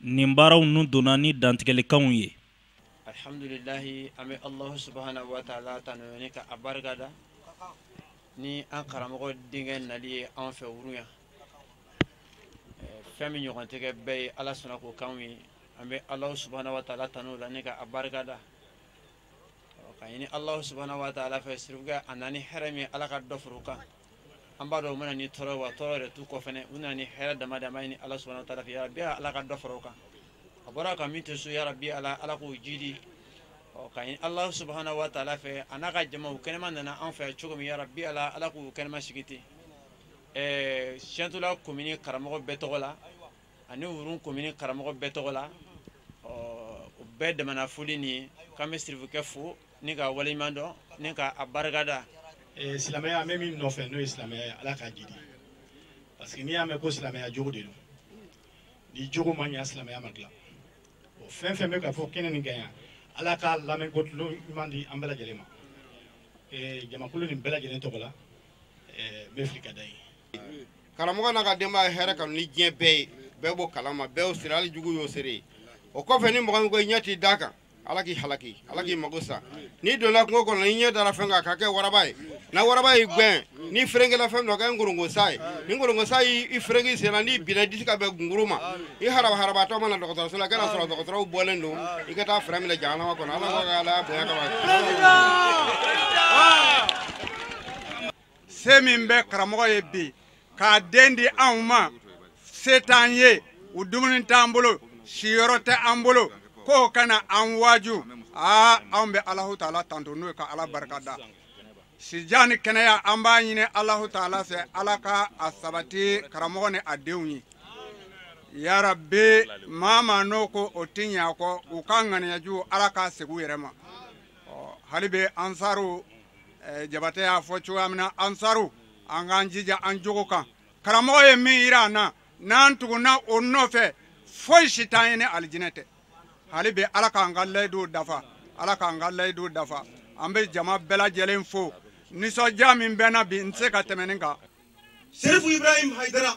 nin baaraw ninnu donna ni dantigɛlikanw ye alhamdulilahi an bɛ alahu subahana wa taala tanu ni ka a barika da ni an karamɔgɔ denkɛ nali ye an fɛ wurun yan fɛn min ɲɔgɔn tɛ kɛ bɛɛ ye ala sɔnna k'o k'anw ye an bɛ alahu subahana wa taala tanu la ni ka a barika da ka ɲini alahu subahana wa taala fɛ sirifukɛ a nana ni hɛrɛ min ala ka dɔ far'o kan an b'a dɔn u ma na ni tɔɔrɔ wa tɔɔrɔ yɛrɛ t'u kɔ fɛnɛ u nana ni hɛrɛ dama dama ɲini ala subahana taala fɛ yarabi ala ka dɔ fara o kan a bɔra ka min to so yarabi ala ala k'o jidi ɔ ka ɲini ala subahana wa taala fɛ a n'a ka jama u kɛnɛman nana an fɛ cogo min yarabi ala ala k'u kɛnɛman segin ten ɛɛ siyɛntula komini karamɔgɔ bɛɛ tɔgɔ la ani wurun komini karamɔgɔ bɛɛ tɔgɔ la ɔ u bɛɛ damana foli nin k'an bɛ sirifukɛ fo ni ka waleɲuman dɔn ni ka a barikada eh, silamɛya an bɛ min nɔfɛ n'o ye silamɛya ye ala k'a jidi parce que n'i y'a mɛn ko silamɛya jogo de don ni jogo ma ɲa silamɛya ma dilan o fɛn fɛn bɛ ka fɔ kɛnɛ nin kan yan ala k'a lamɛnko tulo ɲuman di an bɛɛ lajɛlen ma eh, jamakulu nin bɛɛ lajɛlen tɔgɔ la eh, n bɛ fili ka da ye karamɔgɔ n'a ka denbaya ye hɛrɛ kanu ni diɲɛ bɛɛ ye bɛɛ b'o kalama bɛɛ y'o seere hali jugu y'o seere o kɔfɛ ni mɔgɔ min ko i ɲɛ tɛ d'a kan ala k'i halaki ala k'i mago sa n'i donna kungo kɔnɔ n'i ɲɛ dara fɛn kan ka kɛ waraba ye na waraba y'i gwɛn n'i ferenkela fɛn n'o kɛ nkorongo sa ye ni nkorongo sa y'i ferenke i sen na n'i binna i disi ka bɛn gunguru ma i haraba harabatɔ mana dɔgɔtɔrɔso la ka n'a sɔrɔ dɔgɔtɔrɔw bɔlen don i ka taa fɛrɛ minɛ jahanama kɔnɔ ala ka ala bonya kama se min bɛ karamɔgɔ ye bi k'a den di anw ma se t'an ye u dumuni t'an bolo siyɔrɔ tɛ an bolo k'o ka na an waaju aa anw bɛ alahu taala tanto n'o ye ka ala barika da sijan ni kɛnɛya an b'a ɲini alahu taala fɛ ala ka a sabati karamɔgɔ ni a denw ye yarabi maa maa n'o ko o ti ɲɛ a kɔ u ka ŋaniyajugu ala k'a segin u yɛrɛ ma hali bi ansaru eh, jabatɛ y'a fɔ cogoya min na ansaru an k'an jija an jogo kan karamɔgɔ ye min yira an na n'an tugunna o nɔfɛ foyi si t'an ye ni alijinɛ tɛ hali bi ala k'an ka layiduw dafa ala k'an ka layiduw dafa an bɛ jama bɛɛ lajɛlen fo nisɔndiya min bɛ n na bi n tɛ se ka tɛmɛ nin kan serifu ibrahim hayidara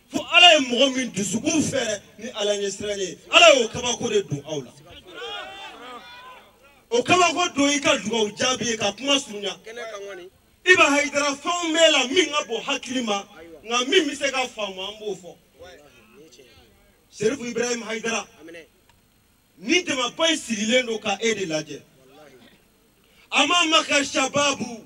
fo ala ye mɔgɔ min dusukun fɛrɛ ni ala ɲɛsiranɲɛ ye ala y'o kabako de don aw la o kabako don i ka dugawu jaabi ye ka kuma surunya iba hayidara fɛn b'e la min ka bon hakili ma nka min bɛ se ka faamu an b'o fɔ serifu ibrahim hayidara ni jamaba in sigilen don ka e de lajɛ amamaka shababu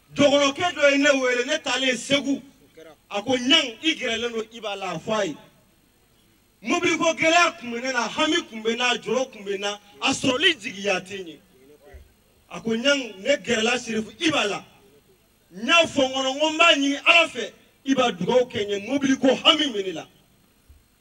dɔgɔnɔkɛ dɔ ye ne wele ne taalen segu a ko ɲan i gɛrɛlen don iba la a fɔ a ye mobiliko gɛlɛya kun bɛ ne na hami kun bɛ n na jɔrɔ kun bɛ n na a sɔrɔli jigiya tɛ n ye a ko ɲan ne gɛrɛla sirifu iba la n y'a fɔ n kɔnɔ n ko n b'a ɲini ala fɛ i b'a dugawu kɛ n ye mobiliko hami bɛ ne la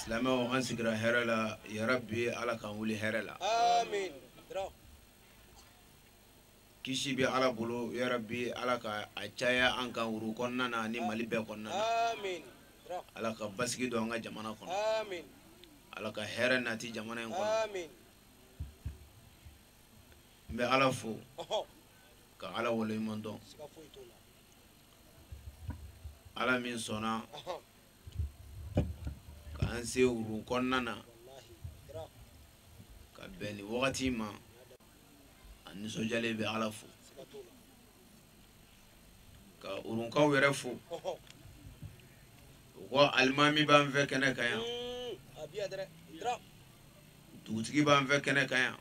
silamɛw an sigira hɛrɛ la yarabi ala k'an wuli hɛrɛ la kisi bɛ ala bolo yarabi ala ka a caya an kan urun kɔnɔna na ni mali bɛɛ kɔnɔna na ala ka basigi don an ka jamana kɔnɔ ala ka hɛrɛ nati jamana in kɔnɔ n bɛ ala fo ka ala waleɲuman dɔn ala min sɔnna k'an se urun kɔnɔna na ka bɛn nin wagati ma an nisɔndiyalen bɛ ala fo ka urunkaw yɛrɛ fo u ko alimami b'an fɛ kɛnɛ kan yan dugutigi b'an fɛ kɛnɛ kan yan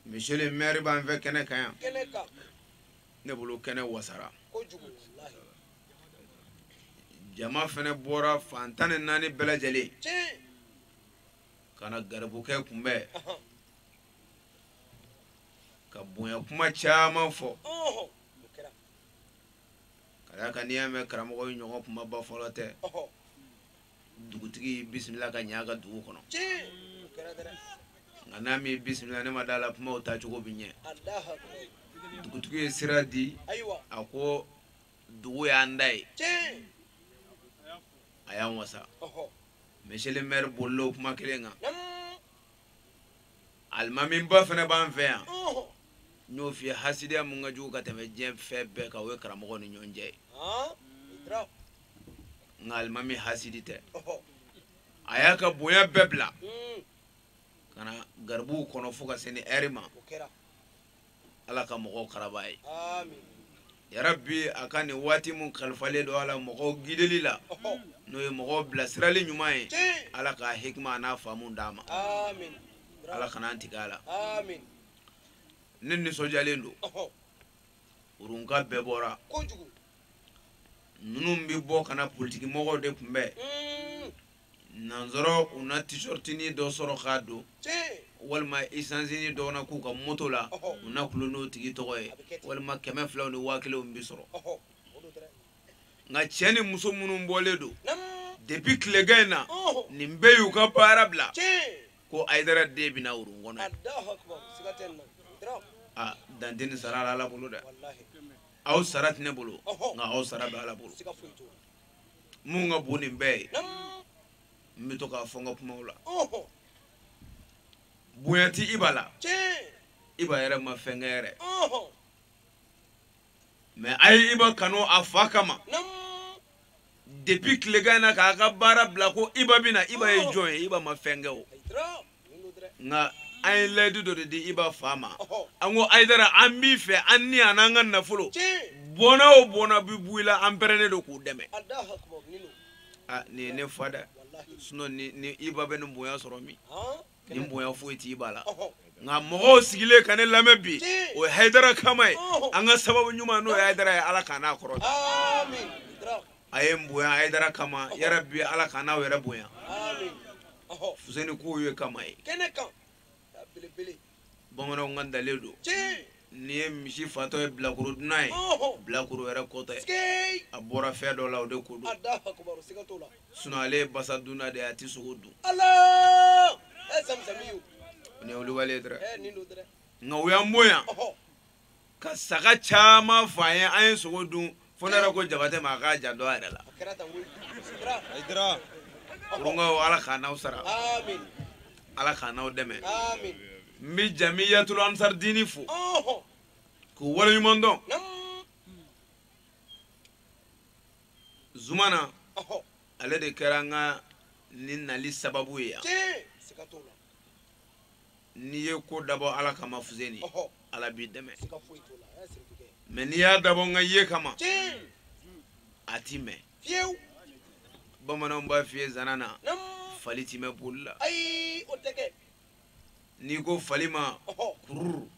monsieur le maire b'an fɛ kɛnɛ kan yan kɛnɛ kan ne bolo kɛnɛ wasara kojugu walahi jama fɛnɛ bɔra fan tan ni naani bɛɛ lajɛlen tiɲɛ ka na garibukɛ kunbɛn ahan ka bonya kuma caman fɔ ɔhɔ o kɛra ka d'a kan n'i y'a mɛn karamɔgɔ ye ɲɔgɔn kumaba fɔlɔ tɛ ɔhɔ dugutigi bisimila ka ɲɛ a ka dugu kɔnɔ nka n'a m'i bisimila ne ma d'a la kumaw tacogo bi ɲɛ dugutigi ye sira di a ko dugu y'an ta ye a y'an wasa monsieur le maire bolila o kuma kelen kan alimamiba fɛnɛ b'an fɛ yan n y'o f'i ye hasidiya mun ka jugu ka tɛmɛ diɲɛ fɛn bɛɛ kan o ye karamɔgɔ ni ɲɔgɔn cɛ ye nka alimami hasidi tɛ a y'a ka bonya bɛɛ bila ka na garibuw kɔnɔ fo ka se nin ɛri ma ala ka mɔgɔw karaba a ye yarabi a ka nin waati min kalifalen don a la mɔgɔw gideli la n'o ye mɔgɔw bilasirali ɲuman ye ala ka hikima an'a faamu d'a ma ala kana an tigɛ a la ne nisɔndiyalen don urunka bɛɛ bɔra minnu bɛ bɔ ka na politiki mɔgɔw de kunbɛn nansɔrɔ u na t-shirtini dɔ sɔrɔ k'a don walima isansini dɔ na k'u ka moto la u na kulo n'o tigi tɔgɔ ye walima kɛmɛ filaw ni waa kelenw bɛ sɔrɔ nka cɛ ni muso minnu bɔlen don depuis tilegan in na nin bɛɛ y'u ka baara bila ko ayidara den bɛ na urun kɔnɔ aa dan tɛ nin sara la ala bolo dɛ aw sara tɛ ne bolo nka aw sara bɛ ala bolo mun ka bon nin bɛɛ ye n bɛ to k'a fɔ n ka kumaw la bonya tɛ iba la iba yɛrɛ ma fɛn kɛ yɛrɛ mais a ye iba kanu a fa kama depuis tilegan na k'a ka baara bila ko iba bɛ na iba ye jɔn ye iba ma fɛn kɛ o nka an ye layidu dɔ de di iba fa ma an ko ayidara an b'i fɛ an ni an n'an ka nafolo bɔnna o bɔnna bi bɔ i la an pɛrɛnnen don k'u dɛmɛ aa nin ye ne fa dɛ sinon ne iba bɛ nin bonya sɔrɔ min nin bonya foyi ti iba la nka mɔgɔw sigilen ka ne lamɛn bi o ye hayidara kama ye an ka sababu ɲuman n'o ye hayidara ye ala k'a n'a kɔrɔta a ye n bonya hayidara kama yarabi ala k'a n'aw yɛrɛ bonya fuseni k'o ye kama ye bamananw ka dalen don n'i ye misi fatɔ ye bilakoro dunan ye bilakoro yɛrɛ ko tɛ a bɔra fɛn dɔ la o de ko don sinon ale ye basa dunna de ye a tɛ sogo dun nin ye wulibali ye dɛrɛ nka u y'an bonya ka saga caman fa an ye an ye sogo dun fo ne yɛrɛ ko jabatɛ ma a k'a janto a yɛrɛ la urunkaw ala k'a n'aw sara ala k'a n'aw dɛmɛ n bɛ jamiyatul ansar diini fo k'u waleɲuman dɔn zumana ale de kɛra an ka nin nali sababu ye yan n'i ye ko dabɔ ala kama fuseni ala b'i dɛmɛ mais n'i y'a dabɔ n ka ye kama a ti mɛn bamananw b'a f'i ye zana na fali ti mɛn boli la n'i ko fali ma kururu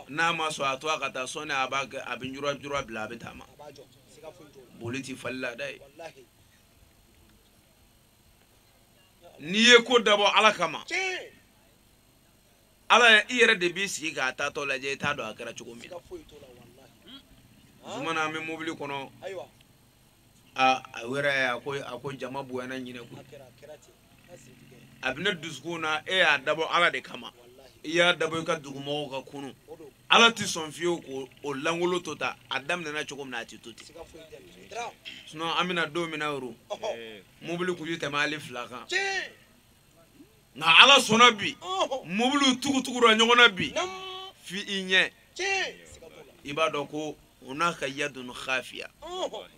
n'a ma sɔn a to a ka taa sɔɔni a b'a kɛ a bɛ jura jura bila a bɛ taama boli ti fali la dɛ n'i ye ko dabɔ ala kama ala i yɛrɛ de b'i sigi k'a taatɔ lajɛ i t'a dɔn a kɛra cogo min zumana an bɛ mobili kɔnɔ a a yɛrɛ a ko a ko jama bonyana ɲinɛn koyi a bɛ ne dusukun na e y'a dabɔ ala de kama i y'a dabɔ i ka dugumɔgɔw ka kunun ala tɛ sɔn fiyewu ko o langolo to ta a daminɛna cogo min na a tɛ to ten sinɔn an bɛ na don min na yoro mobili kun tɛ tɛmɛ hali fila kan nka ala sɔnna bi mobiliw tugutugura ɲɔgɔn na bi f'i i ɲɛ i b'a dɔn ko hunaka yadun khafiya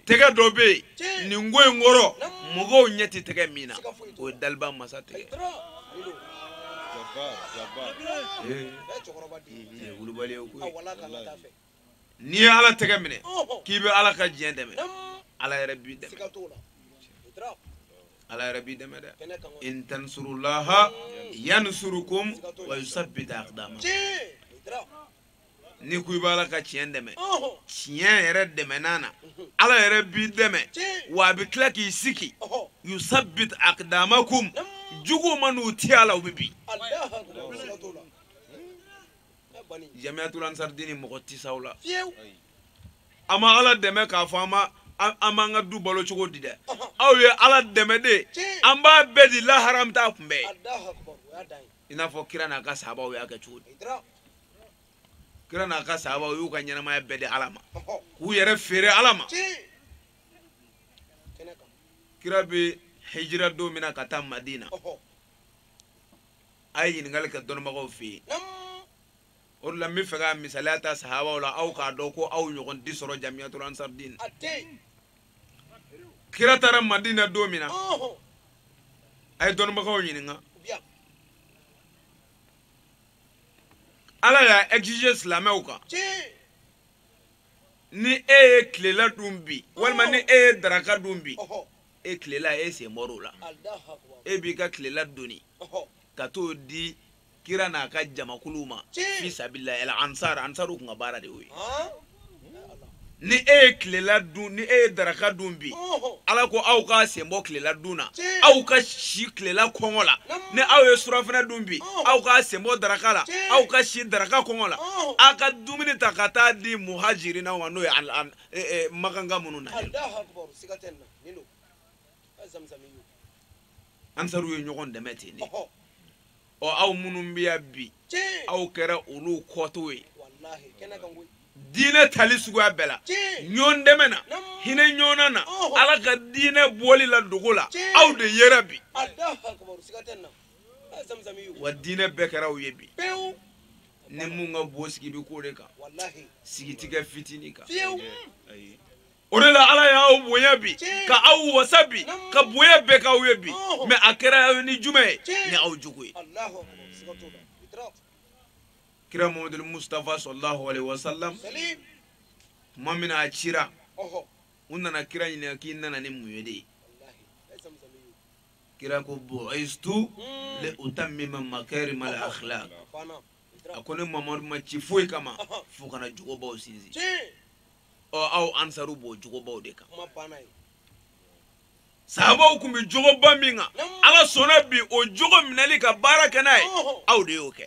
tɛgɛ dɔ bɛ yen nin ko in kɔrɔ mɔgɔw ɲɛ tɛ tɛgɛ min na o ye daliba masa tɛgɛ n'i ye ala tɛgɛ minɛ k'i bɛ ala ka diinɛ dɛmɛ ala yɛrɛ b'i dɛmɛ ala yɛrɛ b'i dɛmɛ dɛ in tansurullaha yansurukum wa yusabbit aqdamakum n'i ko i b'ala ka tiɲɛ dɛmɛ tiɲɛ yɛrɛ dɛmɛnan na ala yɛrɛ b'i dɛmɛ wa a bɛ tila k'i sigi yusabbit aqdamakum juguw man'u ti a la u bɛ bin jamiyatul ansardini mɔgɔ ti s'aw la a ma ala dɛmɛ k'a fɔ an ma an b'an ka du balo cogo di dɛ aw ye ala dɛmɛ de an b'a bɛɛ di lahara an bɛ taa kunbɛn i n'a fɔ kira n'a ka sahabaw y'a kɛ cogo di kira n'a ka sahabaw y'u ka ɲɛnamaya bɛɛ di ala ma k'u yɛrɛ feere ala ma kira bɛ hijira don min na ka taa madina a ye ɲininkali kɛ dɔnnibagaw fɛ yen o de la n bɛ fɛ ka misaliya ta sahabaw la aw k'a dɔn ko aw ɲɔgɔn ti sɔrɔ jamiyatul ansar din kira taara madina don min na a ye dɔnnibagaw ɲininka ala y'a exige silamɛw kan ni e ye tilela dun bi walima ni e ye daraka dun bi e tilela e sen bɔr'o la e b'i ka tilela doni ka t'o di kira n'a ka jamakuluw ma fi sabilillah el ansar ansaruw kun ka baara de y'o ye ni e ye tilela dun ni e ye daraka dun bi ala ko aw ka sen bɔ tilela dun na aw ka si tilela kɔngɔ la ni aw ye surafana dun bi aw ka sen bɔ daraka la aw ka si daraka kɔngɔ la aw ka dumuni ta ka taa di muhajirinaw ma n'o ye e, e, makankaw minnu na ansaruw ye ɲɔgɔn dɛmɛ ten de ɔ aw minnu bɛ yan bi aw kɛra olu kɔtɔw ye diinɛ tali suguya bɛɛ la ɲɔgɔn dɛmɛ na hinɛ ɲɔgɔnna na ala ka diinɛ bɔli la dogo la aw de yera bi wa diinɛ bɛɛ kɛra aw ye bi ni mun ka bon sigi bɛ k'o de kan sigi tɛ kɛ fitinin kan o de la ala y'aw bonya bi ka aw wasa bi ka bonya bɛɛ k'aw ye bi mɛ a kɛra ni jumɛn ye ni aw jogo ye kira mamadul mustafa sallallahu alaihi wasallam tuma min a cira u nana kira ɲininka k'i nana ni mun ye de ye kira ko bu'istu li utammima makarima al akhlaq a ko ne mamadu ma ci foyi kama fo ka na jogobaw sinsin ɔ aw ansaru b'o jogobaw de kan sahabaw tun bɛ jogoba min kan ala sɔnna bi o jogo minɛli ka baara kɛ n'a ye aw de y'o kɛ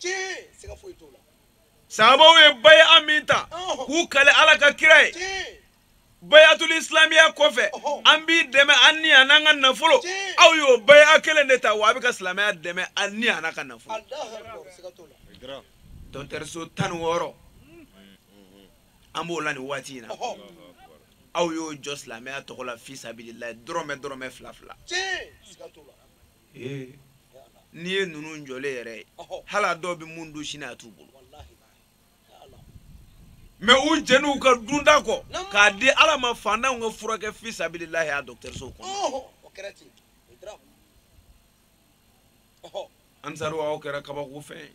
sahabaw ye bayi'a min ta k'u kale ala ka kira ye bayatul isilamiya kɔfɛ an b'i dɛmɛ an ni a n'an ka nafolo aw y'o bayi'a kelen de ta wa a bɛ ka silamɛya dɛmɛ an ni a n'an ka nafolo dɔgɔtɔrɔso tan ni wɔɔrɔ an b'o la nin waati in na aw y'o jɔ silamɛya tɔgɔ la fi sabililayi dɔrɔmɛ dɔrɔmɛ fila fila n'i ye ninnu jɔlen yɛrɛ ye hali a dɔw bɛ mun dun sini a t'u bolo mɛ u jɛn'u ka dunta kɔ k'a di ala ma fantanw ka furakɛ fi sabililayi a dɔgɔtɔrɔso kɔnɔ ansaru aw kɛra kabako fɛn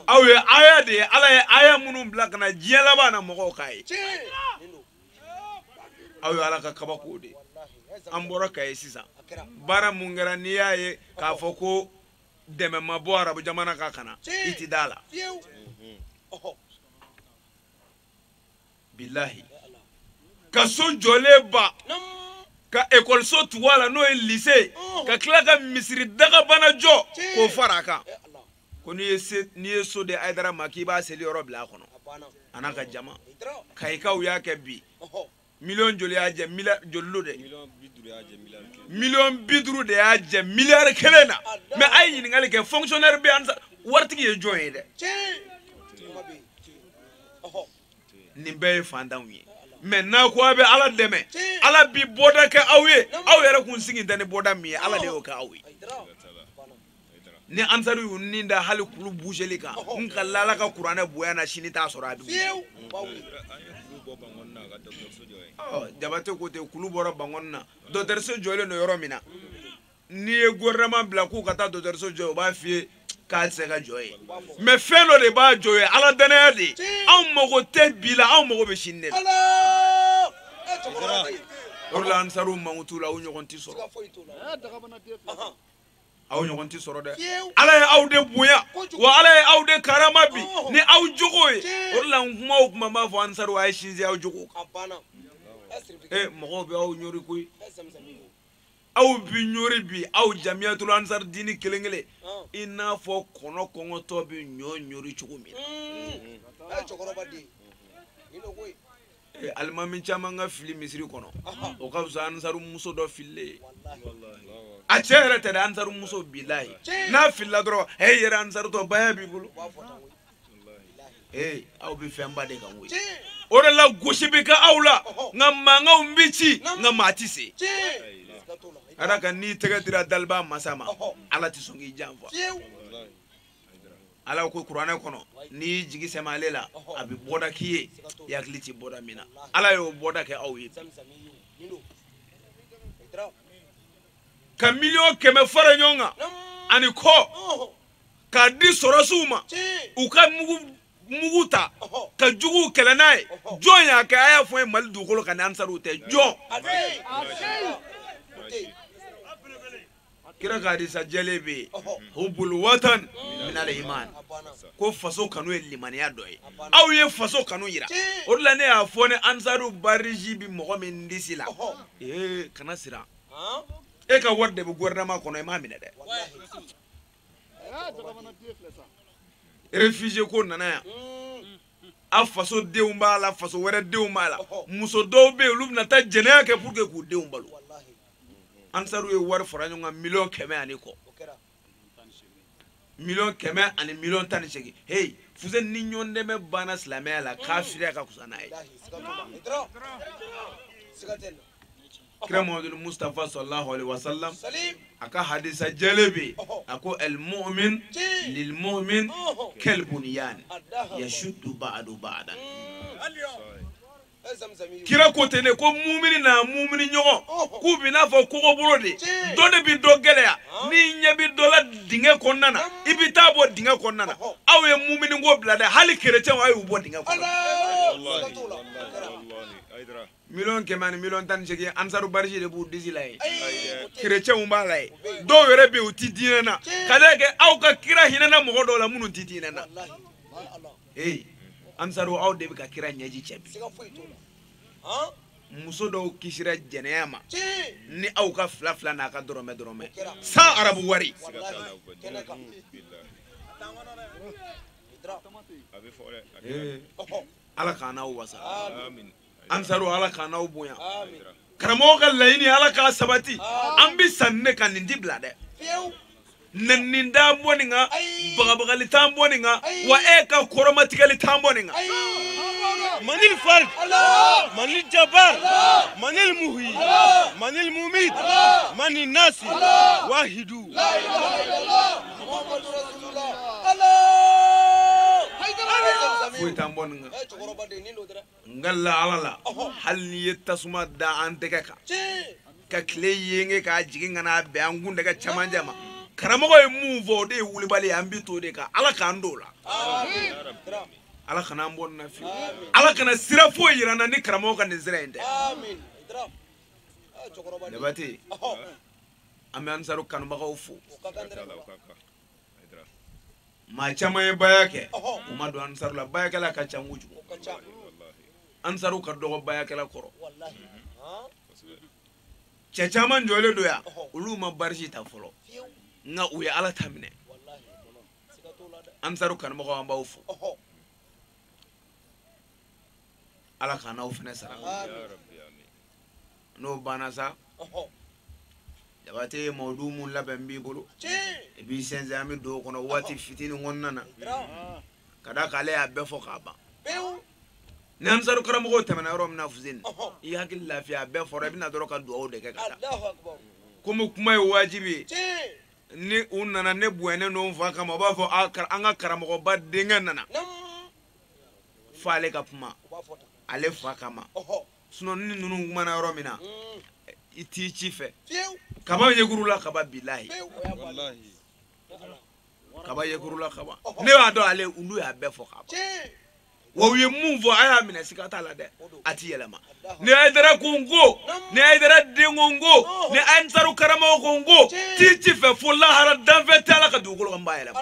aw ye aya de ye ala ye aya minnu bila ka na diɲɛ laban na mɔgɔw k'a ye aw ye ala ka kabako de an bɔra kayi sisan baara mun kɛra n'i y'a ye k'a fɔ ko dɛmɛ ma bɔ arabu jamana kan ka na i ti d'a la bilahi ka so jɔlen ban ka ekɔliso tugu a la n'o ye lise ka tila ka misiri dagabana jɔ k'o fara a kan ko n'i ye se n'i ye so di ayidara ma k'i b'a seliyɔrɔ bila a kɔnɔ a n'a ka jama kayikaw y'a kɛ bi miliyɔn joli y'a jɛ miliyari joli lo dɛ miliyɔn bi duuru de y'a jɛ miliyari kelen na mɛ a ye ɲininkali kɛ fonkisiyɔnɛri bɛ yan waritigi ye jɔn ye dɛ nin bɛɛ ye fantanw ye mɛ n'a ko a bɛ ala dɛmɛ ala bi bɔda kɛ aw ye aw yɛrɛ kun sigi tɛ ni bɔda min ye ala de y'o kɛ aw ye ni ansaru y'u ni da hali kulu buzeli kan n kal'ala ka kuranɛ bonya na sini t'a sɔrɔ a dugu jabate ko ten kulu bɔra bankɔni na dɔtɛriso jɔlen don yɔrɔ min na n'i ye gouvernement bila k'u ka taa dɔtɛriso jɔ u b'a f'i ye k'a tɛ se ka jɔ yen mɛ fɛn dɔ de b'a jɔ yen ala dannaya de ye anw mago tɛ bi la anw mago bɛ sini de la o de la ansaru mankutu la aw ɲɔgɔn tɛ sɔrɔ aw ɲɔgɔn tɛ sɔrɔ dɛ ala ye aw de bonya wa ala ye aw de karama bi ni aw jogo ye o de la n kuma o kuma n b'a fɔ ansariw a ye sinsin aw jogo kan ee mɔgɔw bɛ aw ɲori koyi aw bi ɲori bi aw jamiyatulu ansari diini kelen kelen i n'a fɔ kɔnɔ kɔngɔtɔ bɛ ɲɔ ɲori cogo min na. eh, alimami caman ka fili misiri kɔnɔ o ka fisa ansaru muso dɔ fililen ye a cɛ yɛrɛ tɛ dɛ ansaru muso bilayi n'a filila dɔrɔn e yɛrɛ ansaru tɔ baya b'i bolo ee aw bɛ fɛnba de kan koyi o de la gosi bɛ kɛ aw la nka mankanw bɛ ci nka maa tɛ se ala ka n'i tɛgɛ dira daliba masa ma ala tɛ sɔn k'i janfa ala ko kuranɛ kɔnɔ n'i y'i jigi sɛmɛ ale la a bɛ bɔda k'i ye i hakili tɛ bɔda min na ala y'o bɔda kɛ aw ye ka miliyɔn kɛmɛ fara ɲɔgɔn kan ani kɔ k'a di sɔrɔsiw ma u ka mugu ta ka juguw kɛlɛ n'a ye jɔn y'a kɛ a y'a fɔ ye mali dugukolo kan ni ansariw tɛ jɔn kira ka hadisa jɛlen bɛ yen hubul watan minal iman ko faso kanu ye limaniya dɔ ye aw ye faso kanu yira o de la ne y'a fɔ ni ansaru badge bi mɔgɔ min disi la ee kana siran e ka wari de bɛ gouvernement kɔnɔ i m'a minɛ dɛ réfugié ko nana yan a faso denw b'a la faso wɛrɛ denw b'a la muso dɔw bɛ yen olu bɛna taa jɛnɛya kɛ pour que k'u denw balo ansaru ye wari fara ɲɔgɔn kan miliyɔn kɛmɛ ani kɔ miliyɔn kɛmɛ ani miliyɔn tan ni seegin heyi fuseni ni ɲɔgɔn dɛmɛ banna silamɛya la kafiriya ka fisa n'a ye kira muhamadu mustapha sallallahu alaihi wa sallam a ka hadisa jɛlen bɛ yen a ko alimumin lilimumin kɛlibuniyan yasudu baadu baadan. kira ko ten de ko mumini n'a mumini ɲɔgɔn k'u bɛ n'a fɔ kogobolo de dɔ de bɛ dɔ gɛlɛya n'i ɲɛ bɛ dɔ la dingɛ kɔnɔna na i bɛ t'a bɔ dingɛ kɔnɔna na aw ye mumini ko bila dɛ hali kerecɛnw a y'u bɔ dingɛ kɔnɔ miliyɔn kɛmɛ ani miliyɔn tan ni seegin ansaru badge de b'u disi la ye kerecɛnw b'a la ye dɔw yɛrɛ bɛ yen u tɛ diinɛ na ka d'a kan aw ka kira hinɛna mɔgɔ dɔw la minnu tɛ diinɛ na ee ansaru aw de bɛ ka kira ɲɛji cɛ bi muso dɔw kisira jɛnɛya ma ni aw ka fila fila n'aw ka dɔrɔmɛ dɔrɔmɛ sans arabu wari ala k'an n'aw wasa ansaru ala k'an n'aw bonya karamɔgɔ ka laɲini ala k'a sabati an bi sanni ne ka nin ti bila dɛ nɛnini t'an bɔ nin kan bagabagali t'an bɔ nin kan wa e ka kɔrɔmatigɛli t'an bɔ nin kan manil fard manil jabar manil muhyi manil mumit manil nasi wahidu foyi t'an bɔ nin kan n kalila ala la hali n'i ye tasuma da an tɛgɛ kan ka tile yenge k'a jigin ka n'a bɛn an kun tɛgɛ camancɛ ma karamɔgɔ ye mun fɔ o de ye wulibali ye an bi t'o de kan ala k'an don o la ala kana an bɔ nin na fiyewu ala kana sira foyi yira an na ni karamɔgɔ ka nin sira in tɛ jabate an bɛ ansaru kanubagaw fo maa caman ye baya kɛ u ma don ansaru la bayakɛla ka ca kojugu ansaru ka dɔgɔ bayakɛla kɔrɔ cɛ caman jɔlen don yan olu ma barisi ta fɔlɔ nka u ye ala ta minɛ ansaru kanubagaw an b'aw fo ala k'an n'aw fana sara n'o banna sa jabate mawdu mun labɛn b'i bolo i b'i sɛnsɛn an bɛ don o kɔnɔ waati fitinin kɔnɔna na ka d'a kan ale y'a bɛɛ fɔ k'a ban ni ansaru karamɔgɔw tɛmɛna yɔrɔ min na fuseni i hakili lafiya a bɛɛ fɔra i bɛ na dɔrɔn ka dugawu de kɛ ka taa komi kuma ye wajibi ye ni u nana ne bonyalen don n fa kama u b'a fɔ an ka karamɔgɔba denkɛ nana f'ale ka kuma ale fa kama sinɔn ni ninnu kumana yɔrɔ min na i t'i ci fɛ kaba yekuru la kaba bilahi kaba yekuru la kaba ne b'a dɔn ale olu y'a bɛɛ fɔ k'a ban wa u ye mun fɔ a y'a minɛ siga t'a la dɛ a ti yɛlɛma ni haidara ko n ko ni haidara den ko n ko ni ansaru karamɔgɔ ko n ko t'i ci fɛ fo lahara danfɛn t'ala ka dugukolo kan b'a yɛlɛma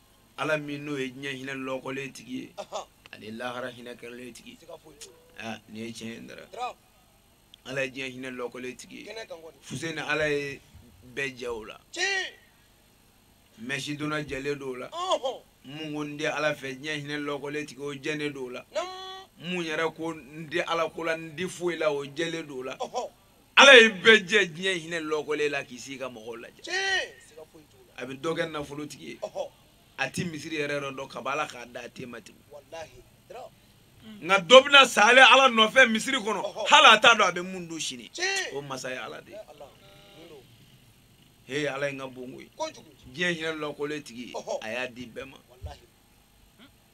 ala min n'o ye diɲɛ hinɛ lɔkɔlen tigi ye ani lahara hinɛ kɛrɛlen tigi nin ye tiɲɛ ye dara ala ye diɲɛ hinɛ lɔkɔlen tigi ye fuseni ala ye bɛɛ jɛ o la mɛsi donna jɛlen don o la mun ko n tɛ ala fɛ diɲɛ hinɛ lɔkɔlen tigi o jɛlen don o la mun yɛrɛ ko n tɛ ala ko la n tɛ foyi la o jɛlen don o la ala ye bɛɛ jɛ diɲɛ hinɛ lɔkɔlen la k'i sigi ka mɔgɔw lajɛ a bɛ dɔ kɛ nafolotigi ye a ti misiri yɛrɛ yɔrɔ dɔn kaba ala k'a da a te ma tigi nka dɔ bɛna sa ale ala nɔfɛ misiri kɔnɔ hali a t'a dɔn a bɛ mun dun sini o masa ye ala de ye he ala ye n ka bon koyi diɲɛ hinɛ lɔkɔlen tigi a y'a di bɛɛ ma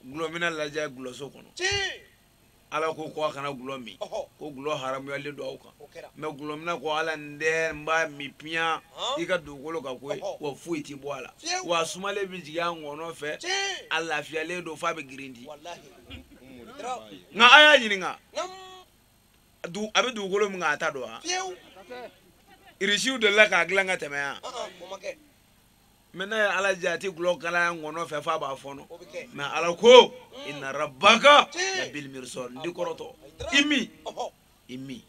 gulɔmina lajɛ gulɔso kɔnɔ ala ko ko a kana gulɔ min ko gulɔ haramuyalen don aw kan mɛ gulɔmina ko ala n tɛ n b'a min piyan i ka dugukolo kan koyi wa foyi ti bɔ a la wa sumalen bɛ jigin a ŋɔnɔ fɛ a lafiyalen don f'a bɛ girindi nka a y'a ɲininka a bɛ dugukolo min kan a ta don wa irisiw delila k'a dilan ka tɛmɛ yan mɛ n'a ye ala diya a tɛ gulɔ kalaya ŋɔnɔ fɛ f'a b'a fɔɔnɔ mɛ ala ko inna rabbaka labil mirsad n ti kɔrɔtɔ i min i min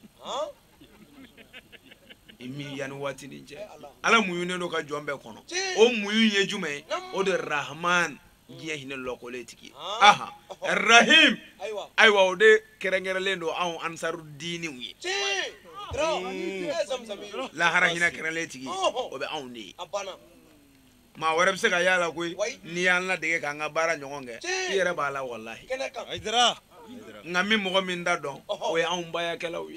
i min yanni waati nin cɛ ala muɲunen don ka jɔn bɛɛ kɔnɔ o muɲu ye jumɛn ye o de rahman diɲɛ hinɛ lɔkɔlen tigi aha rahim ayiwa o de kɛrɛnkɛrɛnlen don anw ansaru diiniw ye lahara hinɛ kɛrɛnlen tigi o bɛ anw de ye maa wɛrɛ bɛ se ka y'a la koyi n'i y'an ladege k'an ka baara ɲɔgɔn kɛ i yɛrɛ b'a la walahi nka min mɔgɔ min ta don o ye anw bayakɛlaw ye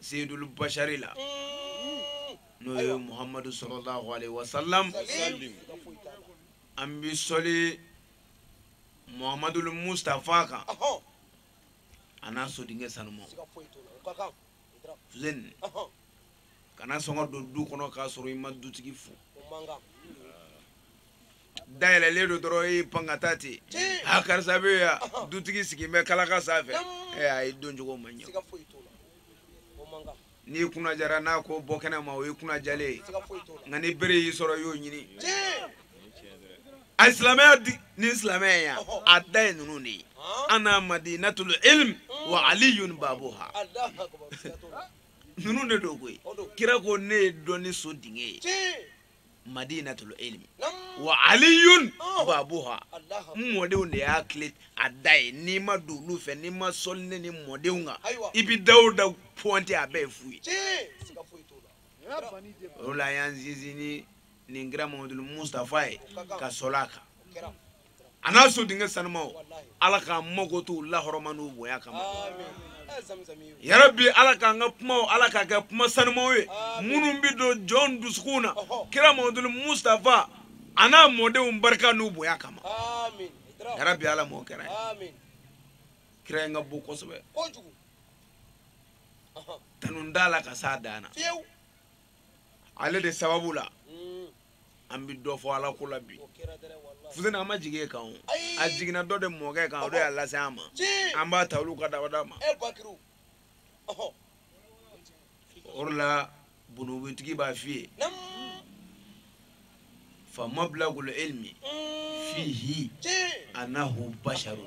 seyidulu bashari la n'o ye muhamadu salalahu alayhi wa salam an bɛ sɔli muhamadu mustafa kan a n'a sodenkɛ sanuman fuseni kana sɔn ka don du kɔnɔ k'a sɔrɔ i ma dutigi fo da yɛlɛlen don dɔrɔn i pan ka taa ten a karisa bɛ yan dutigi sigilen bɛ kalaka sanfɛ a ye don cogo ma ɲɛ n'i kunnajara n'a ko bɔ kɛnɛ ma o ye kunnajalen ye nka ni bere y'i sɔrɔ i y'o ɲini a silamɛya ni silamɛya yan a da ye ninnu de ye ana madinatul ilm wa aliyun babuha ninnu de don koyi kira ko ne ye dɔnni so dingɛ ye madinatul ilmi wa aliyun babuha n mɔdenw de y'a kile a da ye n'i ma don olu fɛ n'i ma sɔli ne ni mɔdenw kan i bi da o da pɔnte a bɛɛ ye fu ye o la an y'an sinsin ni nin kira mamadu mustafa ye ka sɔli a kan a n'a so denkɛ sanumaw ala k'an makoto u lahɔrɔma n'u bonya kama yarabi ala k'an ka kumaw ala k'a kɛ kuma sanumaw ye minnu bɛ don jɔn dusukunw na kira mamaduli mustafa a n'a mɔdenw barika n'u bonya kama yarabi ala m'o kɛra ye kira in ka bon kosɛbɛ tanun t'a la ka s'a dan na ale de sababu la an bɛ dɔ fɔ ala ko la bi fuseni a ma jigin e kan a jiginna dɔ de mɔkɛ kan o de y'a lase an ma an b'a ta olu ka dabada ma o de la burudutigi b'a f'i ye fa mablagul ilmi mm. fihi annahu basharun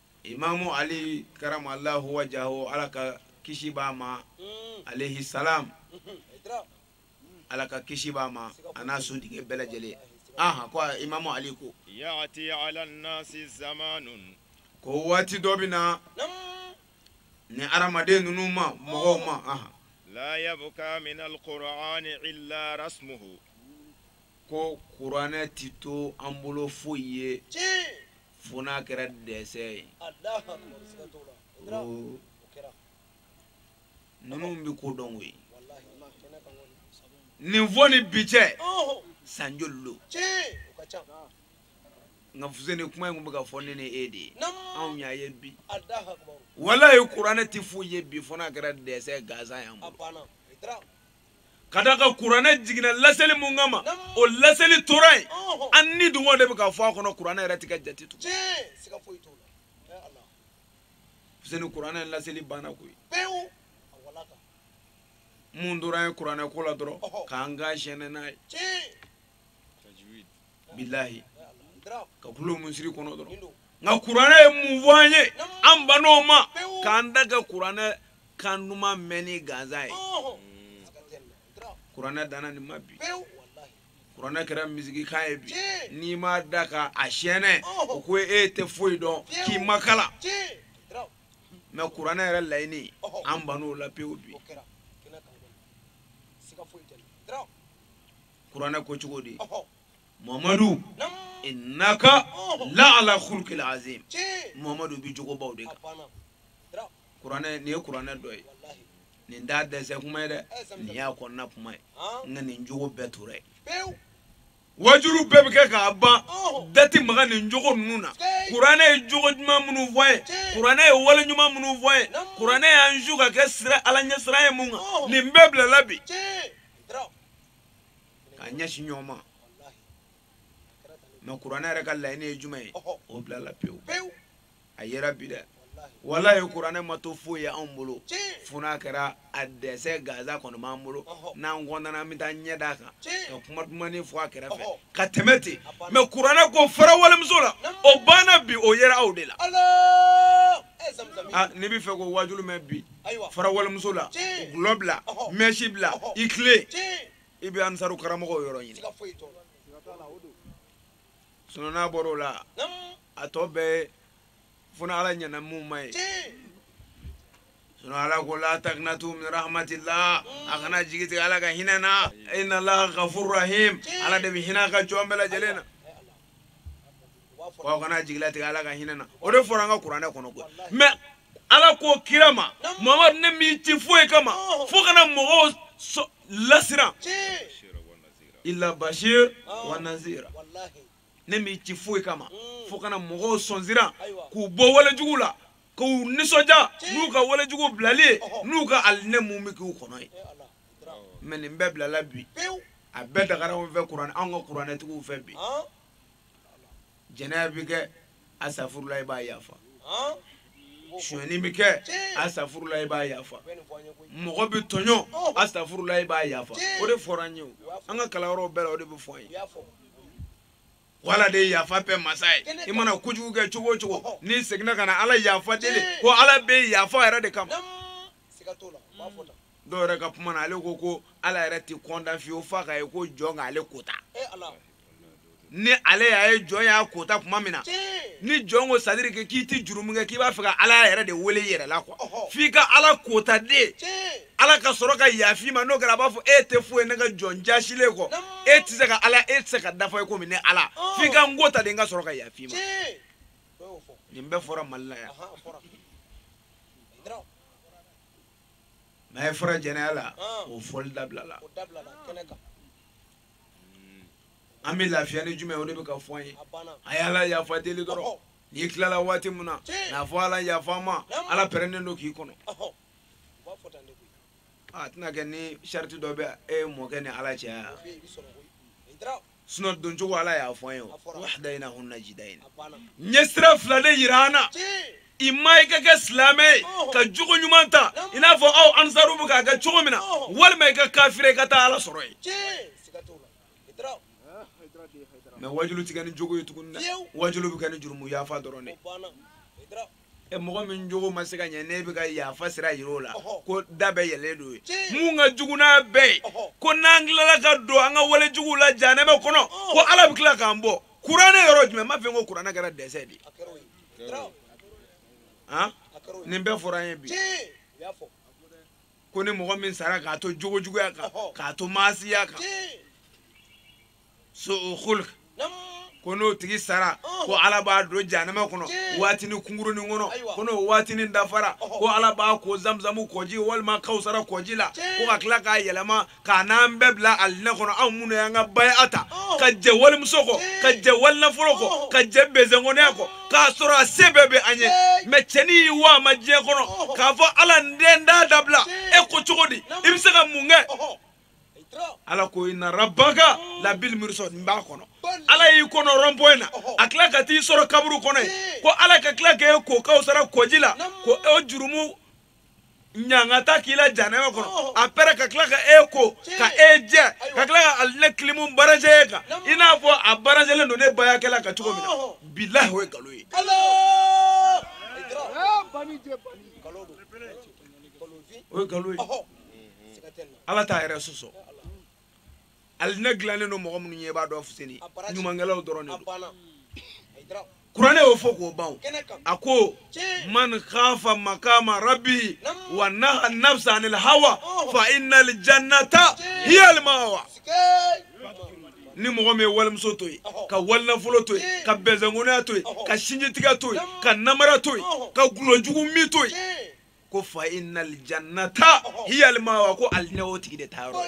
imamu ali karramallahu wajhahu ala ka kisi b'a ma mm. alayhi salam ala ka kisi b'a ma a n'a so denkɛ bɛɛ lajɛlen aha ko imamu ali ko yati ala nasi zamanun ko waati dɔ bɛ na ni adamaden ninnu ma mɔgɔw ma aha la yabka min alqur'ani illa rasmuhu ko kuranɛ ti to an bolo foyi ye fo n'a kɛra desɛn ye ninnu bɛ ko dɔn koyi nin fɔ ni bi cɛ san joli don nka fuseni kuma in tun bɛ ka fɔ ne ni e de ye anw y'a ye bi walayi kuranɛ ti foyi ye bi fo n'a kɛra desɛn gansan y'an bolo. ka d'a kan kuranɛ jiginna laseli mun kama o laseli tora yen an nidungɔ de bɛ ka fɔ a kɔnɔ kuranɛ yɛrɛ ti ka jate tugun fuseni kuranɛ laseli banna koyi mun tora ye kuranɛ ko la dɔrɔn k'an ka sɛnɛ n'a ye bilahi ka kulo misiri kɔnɔ dɔrɔn nka kuranɛ ye mun fɔ an ye an ban'o ma k'an dan kɛ kuranɛ kan duman mɛnni gansan ye kuranɛ danna nin ma bi kuranɛ kɛra misigikan ye bi n'i ma da ka a siyɛnɛ o ko e tɛ foyi dɔn k'i ma kalan mɛn kuranɛ yɛrɛ laɲini an ban'o la pewu bi kuranɛ ko cogo di mamadu innaka la ala khuluqin azim mamadu bi jogobaw de kan kuranɛ nin ye kuranɛ dɔ ye nin t'a desɛn kuma ye dɛ nin y'a kɔnɔna kuma ye nka nin jogo bɛɛ tora ye waajuli bɛɛ bɛ kɛ k'a ban da ti maga nin jogo ninnu na kuranɛ ye jogo ɲuman minnu fɔ ye kuranɛ ye wale ɲuman minnu fɔ ye kuranɛ y'an su ka kɛ sira ala ɲɛ siran ye mun kan nin bɛɛ bilala bi k'a ɲɛsin ɲɔgɔn ma mɛ kuranɛ yɛrɛ ka laɲini ye jumɛn ye o bilala pewu a yera bi dɛ walayi kuranɛ ma to foyi ye anw bolo fo n'a kɛra a desɛn gansan kɔni b'an bolo n'an kɔntana an bɛ taa ɲɛ d'a kan ka kuma dumanin fɔ a kɛrɛfɛ ka tɛmɛ ten mɛ kuranɛ ko fara walimuso la o banna bi o yera aw de la n'i b'a fɛ k'o wajulu mɛn bi fara walimuso la dɔlɔ bila mɛsi bila i tilen i bɛ ansaru karamɔgɔw yɔrɔ ɲini sinɔn n'a bɔra o la a tɔ bɛɛ fo ni ala ɲɛna mun ma yen sinɔn ala ko la takinatu min rahmatila a kana jigi tigɛ ala ka hinɛ na inna laha gafuru rahim ala de bɛ hinɛ a ka jɔn bɛɛ lajɛlen na wa aw kana jigila tigɛ ala ka hinɛ na o de fɔra an ka kuranɛ kɔnɔ koyi mɛ ala ko kira ma mamadu ne m'i ci foyi kama fo ka na mɔgɔw lasiran ila bashir wa nazira ne m'i ci foyi kama mm. fo ka na mɔgɔw sɔnsiran k'u bɔ walejugu la k'u nisɔndiya n'u ka walejugu bilali ye n'u ka alijinɛ mun bɛ k'u kɔnɔ yen mɛ nin bɛɛ bilala bi a bɛɛ dagara anw fɛ kuranɛ anw ka kuranɛtigiw fɛ bi jɛnɛya bɛ kɛ asafurula i b'a yafa sonyani bɛ kɛ asafurula i b'a yafa mɔgɔ bɛ tɔɲɔ asafurula i b'a yafa o de fɔra an ye an ka kalanyɔrɔw bɛɛ la o de bɛ fɔ an ye ko ala de yafa bɛɛ masa ye i mana kojugu kɛ cogo o cogo n'i seginna ka na ala yafa deli ko ala bɛ yafa yɛrɛ de kama dɔw yɛrɛ ka kuma na ale ko ko ala yɛrɛ tɛ kɔntan fiyewu f'a k'a ye ko jɔn k'ale kota ni ale y'a ye jɔn y'a kota tuma min na ni jɔn ko sadiri kɛ k'i tɛ jurumu kɛ k'i b'a fɛ ka ala yɛrɛ de wele yɛrɛ la kuwa f'i ka ala kota de ala ka sɔrɔ ka yaf'i ma n'o kɛra a b'a fɔ e tɛ foyi ne ka jɔn jasilen kɔ e tɛ se ka ala e tɛ se ka dafa i komi ne ala f'i ka n ko ta de n ka sɔrɔ ka yaf'i ma nin bɛɛ fɔra mali la yan maa e fara jɛnɛya la o fɔli dabilala an bɛ lafiya ni jumɛn o de bɛ ka fɔ an ye a ye ala yafa deli dɔrɔn n'i tilala waati min na n'a fɔ ala yafa n ma ala pɛrɛnnen don k'i kɔnɔ a tɛna kɛ ni sariti dɔ bɛ e mɔkɛ ni ala cɛ sinɔn doncogo ala y'a fɔ an ye o wa hadayinahun najidayini n ye sira fila de yira an na ima i ka kɛ silamɛ ye ka jogo ɲuman ta i n'a fɔ aw ansaru bɛ k'a kɛ cogo min na walima i ka kafire i ka taa ala sɔrɔ yen mɛ wajulu tɛ kɛ ni jogo ye tuguni dɛ wajulu bɛ kɛ ni jurumu yafa dɔrɔn de e mɔgɔ min jogo ma se ka ɲɛ ne bɛ ka yafa sira yira o la ko da bɛɛ yɛlɛlen don ye mun ka jugu n'a bɛɛ ye ko n'an tilala ka don an ka wale juguw la janɛmɛ kɔnɔ ko ala bɛ tila k'an bɔ kuranɛ yɔrɔ jumɛn m'a f'e ye ko kuranɛ kɛra dɛsɛ de ye han nin bɛɛ fɔra an ye bi ko ni mɔgɔ min sara k'a to jogo juguya kan k'a to maasiya kan so khulq ko n'o tigi sara ko ala b'a don janama kɔnɔ waatini kunkurunin kɔnɔ ko n'o waatini dafara ko ala b'a ko zamzamu kɔji walima kawusara kɔji la ko ka tila k'a yɛlɛma k'a n'an bɛɛ bila alinɛ kɔnɔ anw minnu y'an ka baya ta ka jɛ walimuso kɔ ka jɛ walinafolo kɔ ka jɛ bezɛnkɔnɔya kɔ k'a sɔrɔ a se bɛɛ bɛ an ye mɛ cɛni y'i wa a ma diɲɛ kɔnɔ k'a fɔ ala n den da dabila e ko cogo di i bɛ se ka mun kɛ ala ko ina rabaka labil mirsad n b'a kɔnɔ ala y'i kɔnɔ rɔnpɔye na a tila ka t'i sɔrɔ kaburu kɔnɔ ye ko ala ka tila k'e ko kawusara kɔji la ko o jurumu ɲangata k'i la janɛma kɔnɔ apɛrɛ ka tila ka e ko ka e jɛ ka tila ka alinɛ kilimu baraje e kan i n'a fɔ a barajelen don ne bayakɛla kan cogo min na bilahi o ye nkalon ye o ye nkalon ye ala t'a yɛrɛ sɔsɔ alinɛ dilannen don mɔgɔ minnu ye i b'a dɔn fuseni ɲumankɛlaw dɔrɔn de don kuranɛ y'o fɔ k'o ban a ko man khafa makama rabbihi wa naha nafsa anil hawa fa innal jannata hiya al mawa ni mɔgɔ min ye walimuso to yen ka walinafolo to yen ka bɛnsɛnkɔnɔya to yen ka sinjitigɛ to yen ka namara to yen ka gulɔjugu min to yen ko fa inna aljannata hiya almawa ko alinɛ o tigi de taa yɔrɔ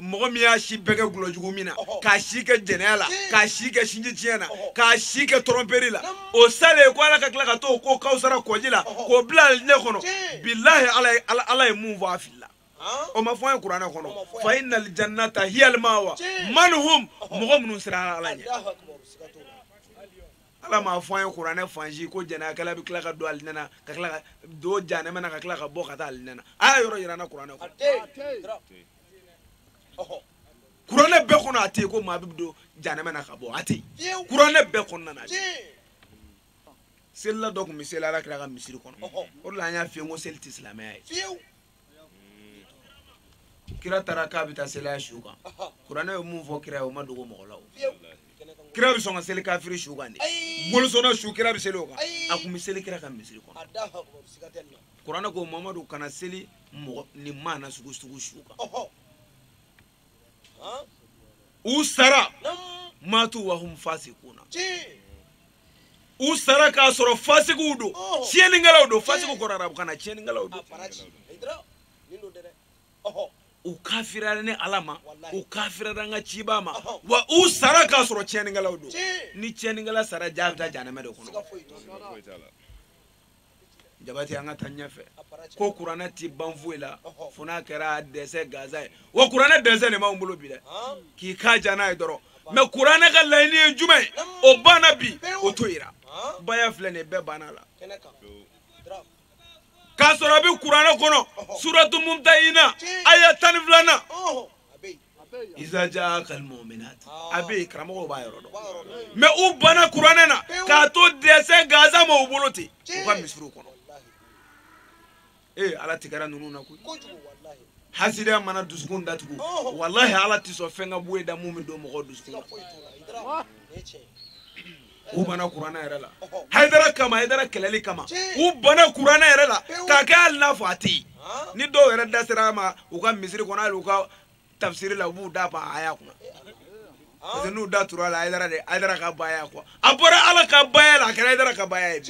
mɔgɔ min y'a si bɛɛ kɛ gulɔjugu min na k'a si kɛ jɛnɛya la k'a si kɛ sinji tiɲɛ na k'a si kɛ tɔrɔnperi la o salen ko ala ka tila ka t'o ko kawusara kɔji la k'o bila alinɛ kɔnɔ bilahi ala ye mun fɔ a filila o ma fɔ an ye kuranɛ kɔnɔ fa inna aljannata hiya almawa man hum mɔgɔ minnu siranna ala ɲɛ ala m'a fɔ an ye kuranɛ fan si ko jɛnɛyakɛla bɛ tila ka don alinɛ na ka tila ka don janɛmɛ na ka tila ka bɔ ka taa alinɛ na a y'a yɔrɔ yira n na kuranɛ kɔnɔ kuranɛ bɛɛ kɔnɔ a tɛ yen ko maa bɛ don janɛmɛ na ka bɔ a tɛ yen kuranɛ bɛɛ kɔnɔna na a tɛ yen selila dɔ tun bɛ seli ala kira ka misiri kɔnɔ o de la an y'a f'i ye ko seli tɛ silamɛya ye kira taara k'a bɛ taa seli a su kan kuranɛ ye mun fɔ kira ye o ma dogo mɔgɔ la o kira bɛ sɔn ka seli kafiri su kan di bolisɔnna su kira bɛ seli o kan a tun bɛ seli kira ka misiri kɔnɔ kuranɛ ko mamadu kana seli mɔgɔ nin maana sugu sugu su kan u sara matu wa hum fasikuna u sara k'a sɔrɔ fasigiw don tiɲɛnikɛlaw don fasigiw kɔrɔ arabukan na tiɲɛnikɛlaw don u kafiriyara ne ala ma u kafiriyara n ka cibaa ma wa u sara k'a sɔrɔ tiɲɛnikɛlaw don ni tiɲɛnikɛla sara jaa bɛ taa jahanama de kɔnɔ jabati an ka taa ɲɛfɛ ko kuranɛ ti ban foyi la fo n'a kɛra dessin gansan ye wa kuranɛ dessin de bɛ maaw bolo bi dɛ k'i kan diya n'a ye dɔrɔn mais kuranɛ ka laɲini ye jumɛn ye o banna bi o to yira baya filɛ nin ye bɛɛ banna a la k'a sɔrɔ a bɛ kuranɛ kɔnɔ suratu mumtahina aya tan ni filanan iza jaaka almuminat a bɛ yen karamɔgɔw b'a yɔrɔ dɔn mais u banna kuranɛ na k'a to dessin gansan ma u bolo ten u ka misiriw kɔnɔ ee ala tigɛra ninnu na koyi hasidiya mana dusukun datugu walahi ala tɛ sɔn fɛn ka bɔ e da mun bɛ don mɔgɔ dusukun na u banna kuranɛ yɛrɛ la hayidara kama hayidara kɛlɛli kama u banna kuranɛ yɛrɛ la k'a kɛ hali n'a fɔ a tɛ yen ni dɔw yɛrɛ da sera a ma u ka misiri kɔnɔ hali u ka tafsiri la u b'u da pan aya kunna parce que n'u da turu a la hayidara de hayidara ka baaya ko a bɔra ala ka baaya la a kɛra hayidara ka baaya ye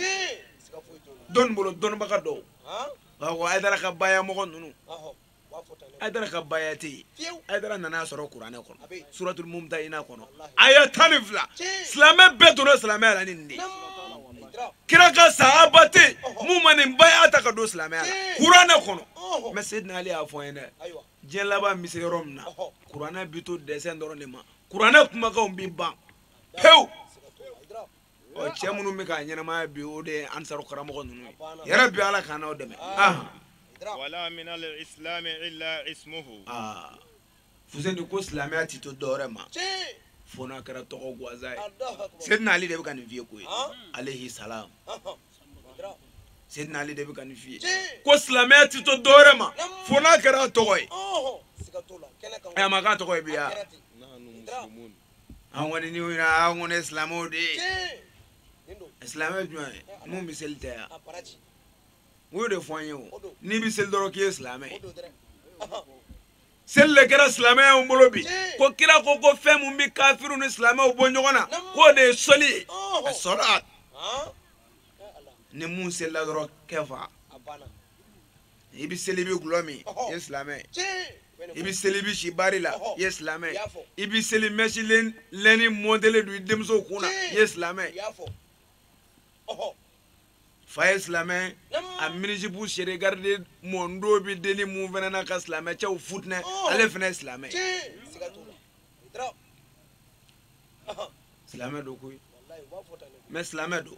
dɔnni bolo dɔnbaga dɔw nka ko hayidara ka baaya mɔgɔ ninnu hayidara ka baaya tɛ hayidara nana a sɔrɔ kuranɛ kɔnɔ suratul mumtahina kɔnɔ aya tan ni fila silamɛ bɛɛ donna silamɛya la ni nin de kira ka sahaba tɛ yen mun ma nin baaya ta ka don silamɛya la kuranɛ kɔnɔ mais sedina ali y'a fɔ an ye dɛ diɲɛ laban bɛ se yɔrɔ min na kuranɛ bɛ to dessin dɔrɔn de ma kuranɛ kumakanw bɛ ban pewu ɔ cɛ minnu bɛ k'a ɲɛnamaya bi o de ye ansaru karamɔgɔ ninnu ye yarabi ala k'an n'aw dɛmɛ wala min al islam illa ismuhu fuseni ko silamɛya ti to dɔwɛrɛ ma fo n'a kɛra tɔgɔ gansan ye sedina ali de bɛ ka nin f'i ye koyi alehi salam sedina ali de bɛ ka nin f'i ye ko silamɛya ti to dɔwɛrɛ ma fo n'a kɛra tɔgɔ ye a ma kɛ tɔgɔ ye bi wa an kɔni ni yira an kɔni ye silamɛw de ye silamɛ jumɛn ye mun bɛ seli tɛ yan u y'o de fɔ an ye o n'i bɛ seli dɔrɔn k'i ye silamɛ ye seli de kɛra silamɛw bolo bi ko kira ko ko fɛn mun bɛ kafiriw ni silamɛw bɔ ɲɔgɔn na k'o de ye seli ye a sɔrɔ a ni mun selila dɔrɔn kɛfa i bɛ seli i bɛ gulɔ min i ye silamɛ i bɛ seli i bɛ si bari la i ye silamɛ i bɛ seli mɛsi lɛni mɔntelen don i denmuso kun na i ye silamɛ fa ye silamɛ a minizipu sere garidi mɔndo bɛ deni mun fana na ka silamɛ cɛw futinɛ ale fana ye silamɛ silamɛ don koyi mɛ silamɛ don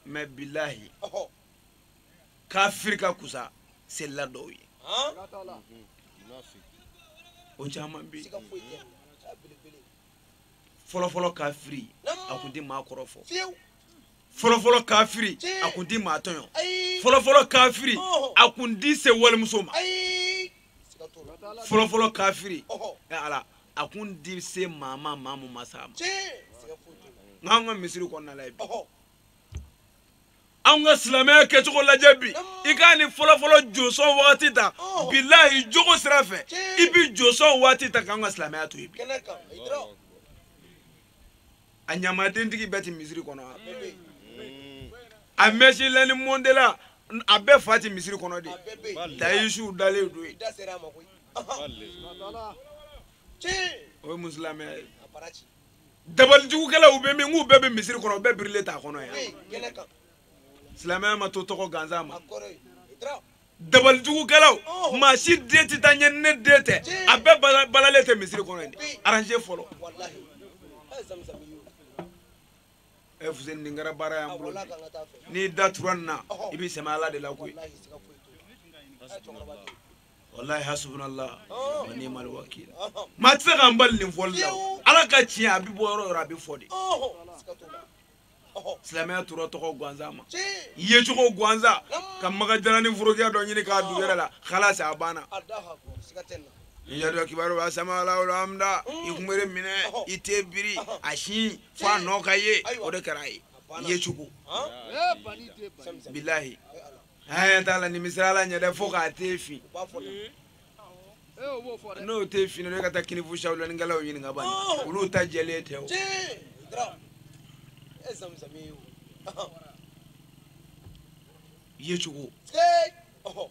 mɛ bilahi kafiri ka kusa selila dɔw ye o caman bɛ yen fɔlɔfɔlɔ kafiri a kun tɛ maa kɔrɔfɔ fɔlɔfɔlɔ kafiri a kun tɛ maa tɔɲɔ fɔlɔfɔlɔ kafiri a kun tɛ se walimuso ma fɔlɔfɔlɔ kafiri ala a kun tɛ se maa ma maa mun ma s'a ma nk'an ka misiri kɔnɔna lajɛ bi. anw ka silamɛya kɛcogo lajɛ bi i k'a ni fɔlɔfɔlɔ josɔn wagati ta bilahi jogo sira fɛ i bi josɔn waati ta k'an ka silamɛya to yen bi a ɲamadentigi bɛɛ ti misiri kɔnɔ a mɛsi lɛni mɔntela a bɛɛ fa ti misiri kɔnɔ de dayisiw dalen don yen o ye musilamɛya ye dabalijugukɛlaw bɛ min k'u bɛɛ bɛ misiri kɔnɔ u bɛɛ birilen t'a kɔnɔ yan silamɛya ma to tɔgɔ gansan ma dabalijugukɛlaw maa si den tɛ taa ɲɛ ni ne den tɛ a bɛɛ balalen tɛ misiri kɔnɔ yen aranze fɔlɔ ɛ eh, fuseni nin kɛra baara y'an bolo n'i da tura nin na i b'i sɛmɛ ala de la koyi walahi hasubunalahu wa ni'mal wakil maa tɛ se k'an bali nin fɔli la ala ka tiɲɛ a bɛ bɔ yɔrɔ yɔrɔ a bɛ fɔ de silamɛya tora tɔgɔ gansan ma yecogo gansan ka maka jalani forokiya dɔ ɲini k'a don yɛrɛ la halasi a banna yadɔ kibaru ba sama ala wolo amda i kunbere minɛ i ten biri a si fo a nɔ ka ye o de kɛra a ye yecogo bilahi haya t'a la nimisira la ɲɛ dɛ fo k'a ten fin n'o ten fin ne ka taa kinifu sawulanikɛlaw ɲininka bani olu ta jɛlen tɛ o yecogo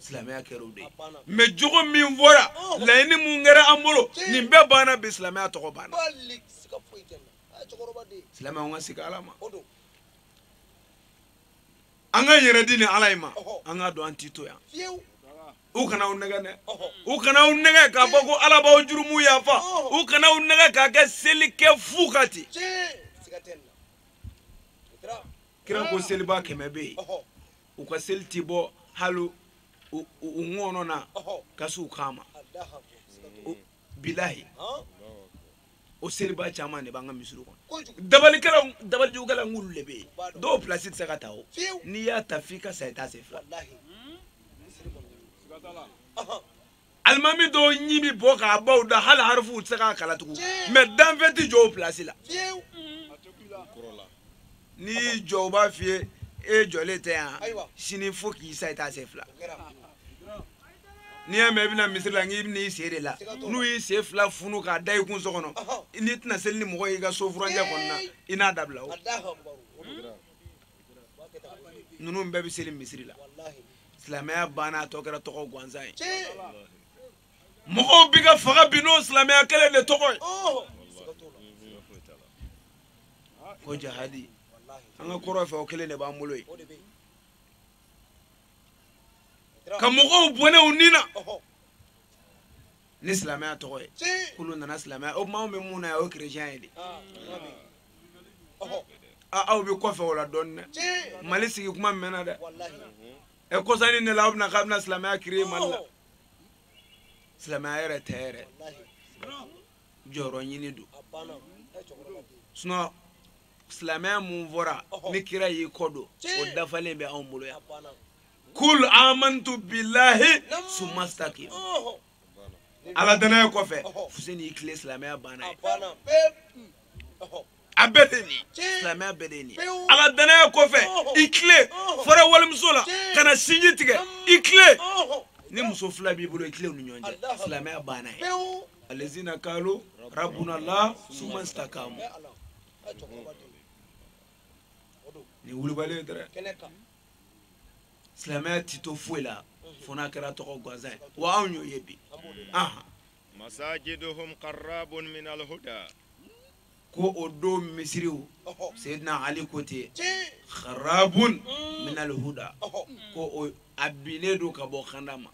silamɛya kɛra o de ye mɛ jogo min fɔra laɲini mun kɛra an bolo nin bɛɛ banna bi silamɛya tɔgɔ banna silamɛya an ka segin ala ma an k'an yɛrɛ di ni ala ye ma an k'a dɔn an ti to yan u kana aw nɛgɛn dɛ u kana aw nɛgɛn k'a fɔ ko ala b'aw jurumu yafa u kana aw nɛgɛn k'a kɛ seli kɛ fu ka ten kira ko selibaa kɛmɛ bɛ yen u ka seli ti bɔ hali u ŋɔnɔ na ka s'u kan ma bilahi o selibaa caman de b'an ka misiri kɔnɔ dabali dabalijugukɛla nk'olu de bɛ yen dɔw pilasi tɛ se ka ta o n'i y'a ta f'i ka sa i t'a sen fila alimami dɔw ɲin bi bɔ ka ban da hali harifuw tɛ se ka kalan tugun mɛ danfɛn tɛ jɔ o pilasi la n'i y'i jɔ u b'a f'i ye e jɔlen tɛ yan sini fo k'i sa i t'a sen fila n'i y'a mɛn i bɛ na misiri la nk'i bɛ na i sen de la n'u y'i sen fila funu k'a da i kun so kɔnɔ n'i tɛna seli ni mɔgɔ y'i ka so furancɛ kɔnɔna i n'a dabila o ninnu bɛɛ bɛ seli misiri la silamɛya banna a tɔ kɛra tɔgɔ gansan ye mɔgɔw bi ka faga bi n'o silamɛya kelen de tɔgɔ ye oh. ko jahadi an ka kɔrɔn fɛ o kelen de b'an bolo yen ka mɔgɔw bɔnɛ u ni na ni silamɛya tɔgɔ ye k'olu nana silamɛya o tuma anw bɛ mun na yan o ye kerecɛn ye de ah, aw bɛ kɔfɛ o la dɔɔnin dɛ mali sigi kuma mɛnna dɛ ɛ kɔsa nin ne la aw bɛna k'aw bɛna silamɛya créer mali la silamɛya yɛrɛ tɛ yɛrɛ jɔyɔrɔ ɲini don sinɔn silamɛya mun fɔra ni kira y'i kɔ don o dafalen bɛ anw bolo yan kul amantu bilahi suma istakim ala danaya kɔfɛ fuseni i tilen silamɛya banna yen a bɛɛ de nin silamɛya bɛɛ de nin ala danaya kɔfɛ i tilen fara walimuso la kana sinji tigɛ i tilen ni muso fila b'i bolo i tilen u ni ɲɔgɔn cɛ silamɛya banna yen alazina kalu rabuna ala suma istakamu ni wulibali ye dɛrɛ silamɛya ti to foyi la fo n'a kɛra tɔgɔ gansan ye wa anw y'o ye bi masajiduhum kharabun min alhuda ko o don misiriw seyidina ali ko ten kharabun min alhuda ko o a binnen don ka bɔ kanda ma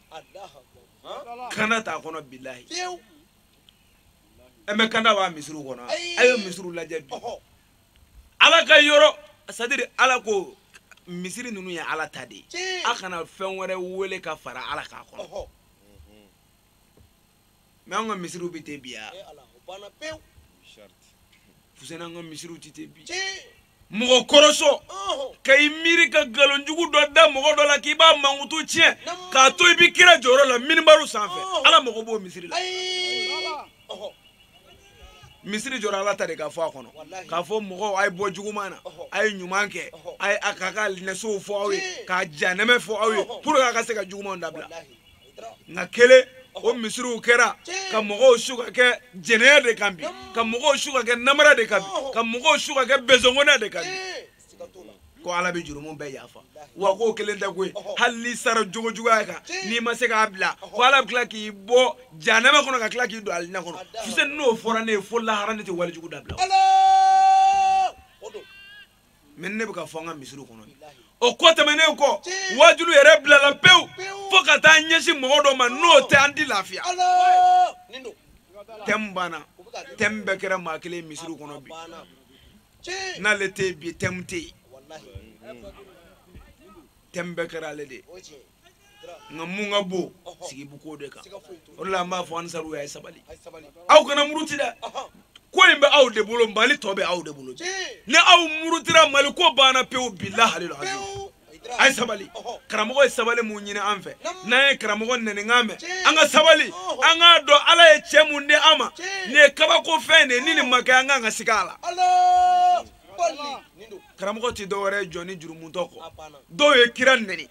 kanda t'a kɔnɔ bilahi ɛ mɛ kanda b'an misiriw kɔnɔ a ye misiriw lajɛ bi ala ka yɔrɔ c'est-à-dire ala ko misiri ninnu ye ala ta de ye a kana fɛn wɛrɛ wele ka fara ala kan a kɔnɔ mɛ an ka misiriw bɛ ten bi wa fuseni an ka misiriw tɛ ten bi mɔgɔ kɔrɔsɔ ka i miiri ka nkalonjugu dɔ da mɔgɔ dɔ la k'i b'a mankutu tiɲɛ k'a to i bɛ kira jɔyɔrɔ la minibaru sanfɛ ala mago b'o misiri la misiri jɔra ala ta de ka fɔ a kɔnɔ k'a fɔ mɔgɔw a ye bɔ juguman na a ye ɲuman kɛ k'a ka nɛsow fɔ aw ye k'a jahanama fɔ aw ye pour que a ka se ka jugumanw dabila nka kelen o misiriw kɛra ka mɔgɔw su ka kɛ jɛnɛya de kan bi ka mɔgɔw su ka kɛ namara de kan bi ka mɔgɔw su ka kɛ bezongonɛ de kan bi ko ala bɛ jurumu bɛɛ yafa wa k'o kelen tɛ koyi hali n'i sara jogo juguya kan n'i ma se k'a bila ko ala bɛ tila k'i bɔ jahanama kɔnɔ ka tila k'i don alijinɛ kɔnɔ fuseni n'o fɔra ne ye fo lahara ne tɛ walejugu dabila nin de bɛ ka fɔ an ka misiri kɔnɔ bi o ko tɛmɛnen kɔ waajuli yɛrɛ bilala pewu fo ka taa ɲɛsin mɔgɔ dɔ ma n'o tɛ an ti lafiya thème banna thème bɛɛ kɛra maa kelen misiri kɔnɔ bi n'ale tɛ yen bi thème tɛ yen thème bɛɛ kɛra ale de ye nka mun ka bon sigi bɛ k'o de kan o de la an b'a fɔ ansaru a ye sabali aw kana muruti dɛ ko in bɛ aw de bolo mali tɔ bɛ aw de bolo ni aw murutira mali ko banna pewu bilahi aliyu la a ye sabali karamɔgɔ ye sabali min ɲini an fɛ n'an ye karamɔgɔ nɛninkan mɛn an ka sabali an k'a dɔn ala ye cɛ min di an ma nin ye kabako fɛn de ye ni nin ma kɛ an kan ka siga a la karamɔgɔ tɛ dɔwɛrɛ ye jɔnnin jurumutɔ kɔ dɔw ye kira nɛni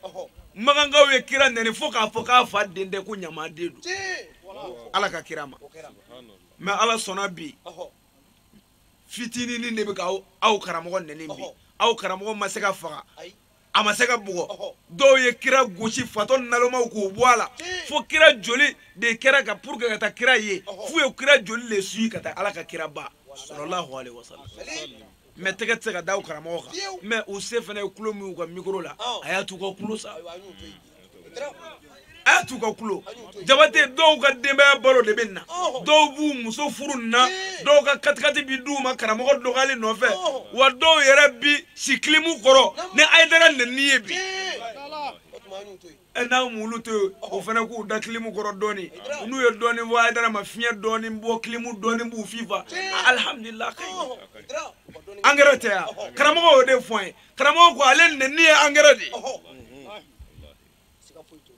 makankaw ye kira nɛni fo k'a fɔ k'a fa den tɛ ko ɲamaden don ala ka kira ma mais ala sɔnna bi fitininin de bɛ ka aw karamɔgɔ nɛni bi aw karamɔgɔ ma se ka faga a ma se ka bugɔ dɔw ye kira gosi fatɔ nalomaw k'u bɔ a la fo kira joli de kɛra ka pour que ka taa kira ye f'u ye kira joli de suivi ka taa ala ka kira ba sallallahu alaihi wasallam mais tɛgɛ tɛ se ka da aw karamɔgɔ kan mais u se fana ye kulo min u ka micro la a y'a t'u ka kulo sa a y'a t'u ka kulo jabate dɔw ka denbaya balo de bɛ nin na dɔw b'u muso furu nin na dɔw ka katikati bi d'u ma karamɔgɔ dɔgɔyali nɔfɛ wa dɔw yɛrɛ bi si clim kɔrɔ ni ayidara nɛni ye bi n'a mulu to yen o fana k'u da clim kɔrɔ dɔɔni n'u ye dɔɔni fɔ ayidara ma fiɲɛ dɔɔni bɔ clim dɔɔni b'u fifa alihamudulila an ka engrais tɛ wa karamɔgɔ y'o de fɔ an ye karamɔgɔ ko ale nɛni ye engrais de ye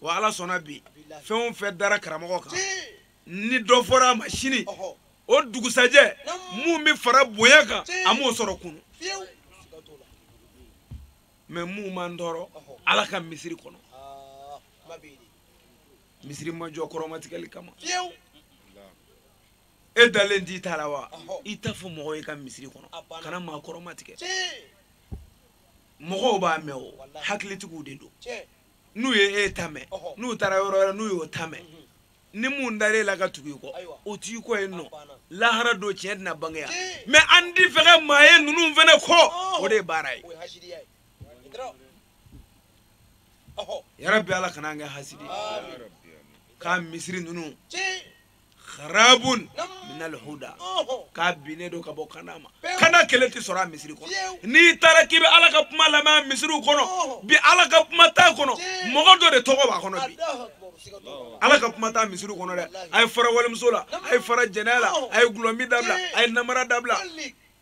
wa ala sɔnna bi fɛn o fɛn dara karamɔgɔ kan ni dɔ fɔra a ma sini o dugusajɛ min bɛ fara bonya kan a m'o sɔrɔ kunu mais min b'an tɔɔrɔ ala ka misiri kɔnɔ misiri ma jɔ kɔrɔmatigɛli kama e dalen t'i ta la wa i ta fɔ mɔgɔw ye ka misiri kɔnɔ kana maa kɔrɔmatigɛ mɔgɔw b'a mɛn o hakilitigiw de don n'u ye e ta mɛn n'u taara yɔrɔ wɛrɛ n'u y'o ta mɛn mhm. ni mun dara e la ka tugu i kɔ o t'i kɔ yen nɔ lahara don tiɲɛ tɛna bange yan mais an ti fɛ ka maa ye ninnu fɛnɛ kɔ o de ye baara ye yarabi ala kana an kɛ hasidi k'a misiri ninnu kharabun minal huda k'a binnen don ka bɔ kanda ma kanda kelen tɛ sɔrɔ a misiri kɔnɔ n'i taara k'i bɛ ala ka kuma lamɛn a misiriw kɔnɔ bi ala ka kuma t'a kɔnɔ mɔgɔ dɔ de tɔgɔ b'a kɔnɔ bi ala ka kuma t'a misiriw kɔnɔ dɛ a ye fara walimuso la a ye fara jɛnɛya la a ye dɔlɔmin dabila a ye namara dabila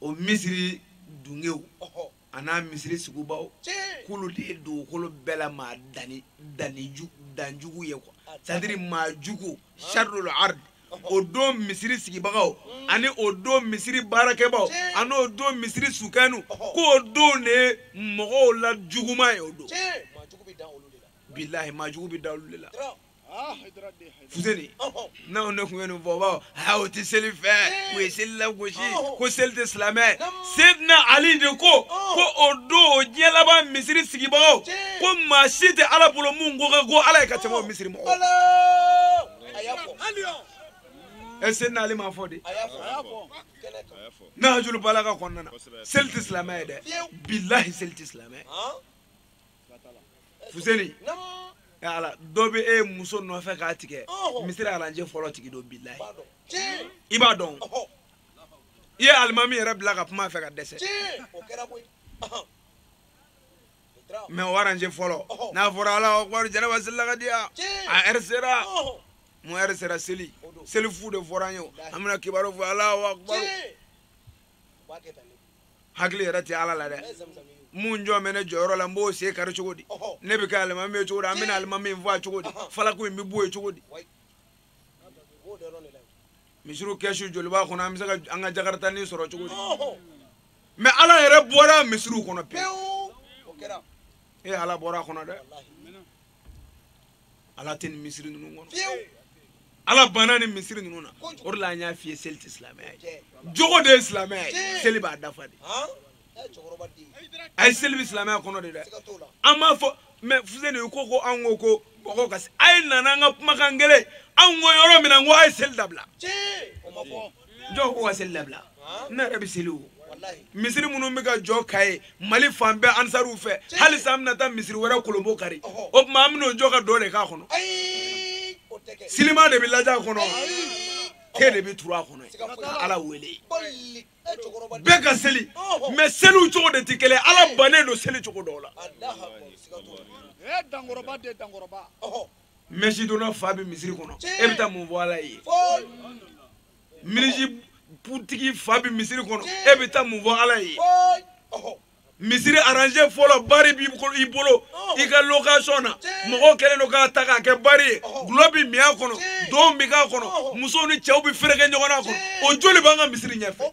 o misiri dungew an'a misiri sigibaw k'olu de ye dugukolo bɛɛ la maa danni danni danjugu ye quoi c'est-à-dire maa jugu sharrul ard o don misiri sigibagaw ani o don misiri baarakɛbaw ani o don misiri sukanu k'o don de ye mɔgɔw la juguman ye o don bilahi maa jugu bɛ da olu de la fuseni n'anw de tun ye nin fɔ u b'a fɔ aa o tɛ seli fɛ u ye seli lagosi ko seli tɛ silamɛ sedina ali de ko ko o don o diɲɛ laban misiri sigibagaw ko maa si tɛ ala bolo mun ko ka go ala ye ka tɛmɛ o misiri mɔgɔw ɛ sedina ali b'a fɔ de nahjul balaga kɔnɔna na seli tɛ silamɛ ye dɛ bilahi seli tɛ silamɛ ye fuseni ala dɔ bɛ e muso nɔfɛ k'a tigɛ misiri aranje fɔlɔ tigi don bilahi i b'a dɔn i ye alimami yɛrɛ bila ka kuma fɛ ka dɛsɛ mais o aranje fɔlɔ n'a fɔra alahu akubaru janaba selila ka diya a heure sera mun heure sera seli seli fu de fɔra an ye an bɛna kibaru fɔ alahu akubaru hakili yɛrɛ tɛ ala la dɛ mun jɔn bɛ ne jɔyɔrɔ la n b'o sen kari cogo di ne bɛ kɛ alimami ye cogo di an bɛna alimami in faga cogo di falako in bɛ bɔ yen cogo di misiriw kɛsu joli b'a kɔnɔ an bɛ se ka an ka jakaritanin sɔrɔ cogo di mais ala yɛrɛ bɔra misiriw kɔnɔ pewu e ala bɔra a kɔnɔ dɛ ala tɛ nin misiri ninnu kɔnɔ ala banna nin misiri ninnu na o de la an y'a f'i ye seli tɛ silamɛya ye jogo de ye silamɛya ye seli b'a dafa de a ye seli bɛ silamɛya kɔnɔ de dɛ an b'a fɔ mais fuseni u ko ko an ko ko mɔgɔw ka se a ye na n'an ka kumakan kelen anw ko yɔrɔ min na n ko a ye seli dabila jɔn ko ka seli dabila ne yɛrɛ bɛ seli o misiri minnu bɛ ka jɔ ka ye mali fan bɛɛ ansariw fɛ halisa an bɛna taa misiri wɛrɛ kurunbonkari o tuma an bɛn'o jɔ ka dɔn de k'a kɔnɔ silima de bɛ lajɛ a kɔnɔ ten de bɛ turu a kɔnɔ ka ala wele bɛɛ ka seli mɛ seliw cogo de tɛ kelen ala bannen don seli cogo dɔw la mɛsi donna fa bɛ misiri kɔnɔ e bɛ taa mun fɔ ala ye minizipu tigi fa bɛ misiri kɔnɔ e bɛ taa mun fɔ ala ye misiri aranze fɔlɔ bari b'i bolo i ka lokasɔn na mɔgɔw kɛlen don k'a ta k'a kɛ bari ye gulɔ bɛ min a kɔnɔ dɔn bɛ k'a kɔnɔ musow ni cɛw bɛ fereke ɲɔgɔn n'a kɔnɔ o joli b'an ka misiri ɲɛfɛ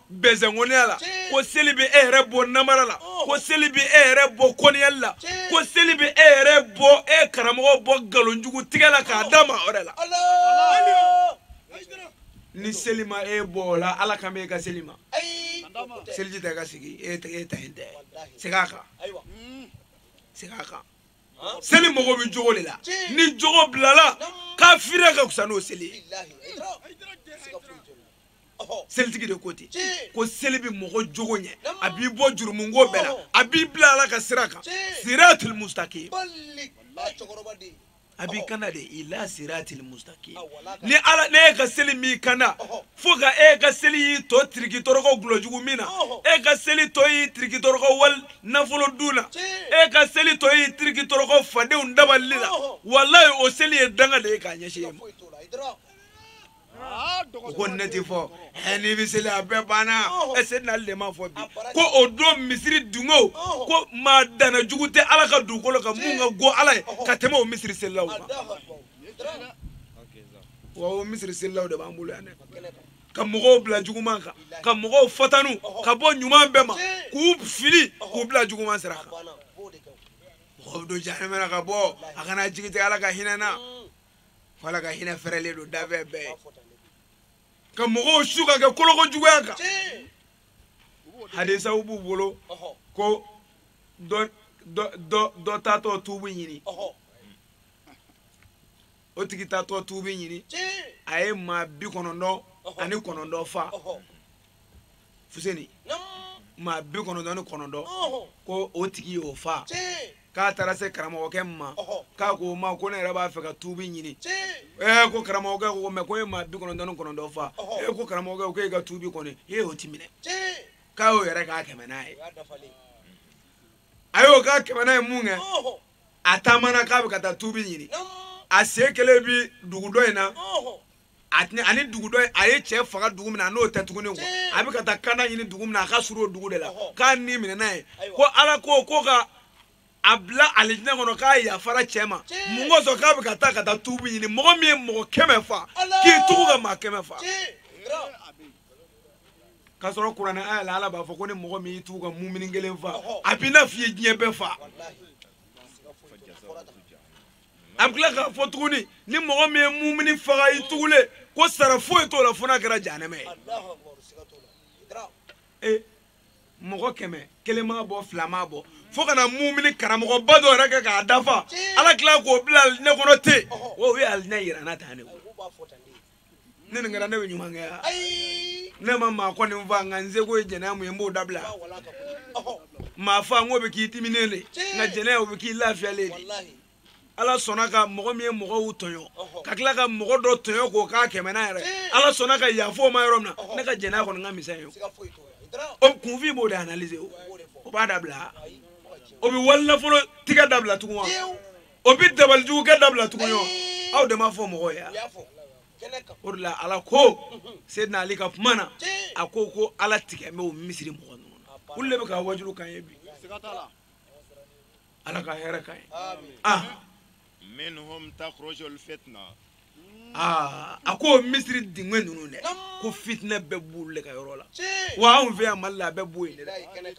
bɛzɛnkɔniya la ko seli bɛ e yɛrɛ bɔ namara la oh. ko seli bɛ e yɛrɛ bɔ kɔniyali la ko seli bɛ e yɛrɛ bɔ e karamɔgɔ bɔ nkalonjugu tigɛ la k'a oh. da maa wɛrɛ la ni seli ma e bɔ o la ala kan bɛ e ka seli ma seliji tɛ ka sigi e tɛ e ta in tɛ segin a kan mm. segin a kan seli mago bɛ jogo de la ni jogo bilala kafiriya ka fisa n'o seli ye. selitigi de ko ten ko seli bɛ mɔgɔ jogo ɲɛ a b'i bɔ jurumunko bɛɛ la a b'i bila ala ka sira kan siratul mustaqim a b'i kanda de ila siratil mustaqim ni ala n'e ka seli m'i kanda fo ka e ka seli y'i to tiriki tɔrɔkɔ gulɔjugu min na e ka seli to y'i tiriki tɔrɔkɔ wali nafolo dun na e ka seli to y'i tiriki tɔrɔkɔ fadenw dabali la walayi o seli ye danga de ye k'a ɲɛsin e ma u ko ne ti fɔ ɛ n'i bɛ seli a bɛɛ banna ɛ seli n'ale de ma fɔ bi ko o don misiri dungo ko maa dana jugu tɛ ala ka dugukolo kan min ka go ala ye ka tɛmɛ o misiri selilaw kan wa o misiri selilaw de b'an bolo yan dɛ ka mɔgɔw bila juguman kan ka mɔgɔw fatanu ka bɔ ɲuman bɛɛ ma k'u fili k'u bila juguman sira kan mɔgɔw bɛ don jahanama na ka bɔ a kana jigi tigɛ ala ka hinɛ na wa ala ka hinɛ fɛrɛlen don danfɛn bɛɛ ka mɔgɔw su ka kɛ koloko juguya kan hadisaw b'u bolo ko dɔ dɔ dɔ taatɔ tuubu ɲini o tigi taatɔ tuubu ɲini a ye maa bi kɔnɔntɔn ani kɔnɔntɔn fa fuseni maa bi kɔnɔntɔn ni kɔnɔntɔn ko o tigi y'o fa k'a taara se karamɔgɔkɛ ma k'a k'o ma ko ne yɛrɛ b'a fɛ ka tuubi ɲini ee ko karamɔgɔkɛ ko mɛ ko e maa bi kɔnɔntɔn ni kɔnɔntɔn fa e ko karamɔgɔkɛ ko e ka tuubi kɔni o ti minɛ k'a y'o yɛrɛ k'a kɛmɛnan ye a y'o k'a kɛmɛnan ye minkɛ a taamana k'a bɛ ka taa tuubi ɲini a sen kelen bi dugu dɔ in na a tɛna ani dugu dɔ a ye cɛ faga dugu min na n'o tɛ tuguni ko a bɛ ka taa kana ɲini dugu min na a ka surun o dugu de la k'a ni minɛ n'a ye ko ala ko ko ka a bila alijinɛ kɔnɔ k'a yafara cɛ ma mun kosɔn k'a bɛ ka taa ka taa tuubu ɲini mɔgɔ min ye mɔgɔ kɛmɛ fa k'i tugu ka maa kɛmɛ fa k'a sɔrɔ kuranɛ aya la ala b'a fɔ ko ni mɔgɔ min y'i tugu ka mumini kelen fa a b'i n'a f'i ye diɲɛ bɛɛ fa a bɛ tila k'a fɔ tuguni ni mɔgɔ min ye mumini faga i tugulen ko sara foyi t'o la fo n'a kɛra jahanɛmɛ ye ee mɔgɔ kɛmɛ kelen m'a bɔ fila m'a bɔ fo ka na mumini karamɔgɔba dɔ yɛrɛ kɛ k'a dafa ala tila k'o bila alijinɛ kɔnɔ ten o ye alinɛ yira n'a ta ne ne nin kɛra ne bɛ ɲuman kɛ ya ne ma maa kɔni fa nka n seko ye jɛnɛya min ye n b'o dabila maa fa n k'o bɛ k'i diminen de nka jɛnɛya o bɛ k'i lafiyalen de ala sɔnna ka mɔgɔ min ye mɔgɔw tɔɲɔ ka tila ka mɔgɔ dɔ tɔɲɔ k'o k'a kɛmɛnan yɛrɛ ala sɔnna ka yaf'o ma yɔrɔ min na ne ka jɛnɛya kɔni ka misɛn ye o kunfin b'o de analyse o o b'a dabila o bɛ wali nafolo tigɛ dabila tugun wa o bi dabalijugukɛ dabila tugun yɔ aw de m'a fɔ mɔgɔ ye o de la ala ko sedina ali ka kuma na a ko ko ala tigɛ bɛ bɔ misiri mɔgɔ ninnu na olu de bɛ ka wajulu kan ye bi ala ka hɛrɛ kan ye ah minhum takhruju alfitna aa a ko misiri dingɛ ninnu dɛ ko fitinɛ bɛɛ b'olu de ka yɔrɔ la wa anw fɛ yan mali la a bɛɛ bɔ yen de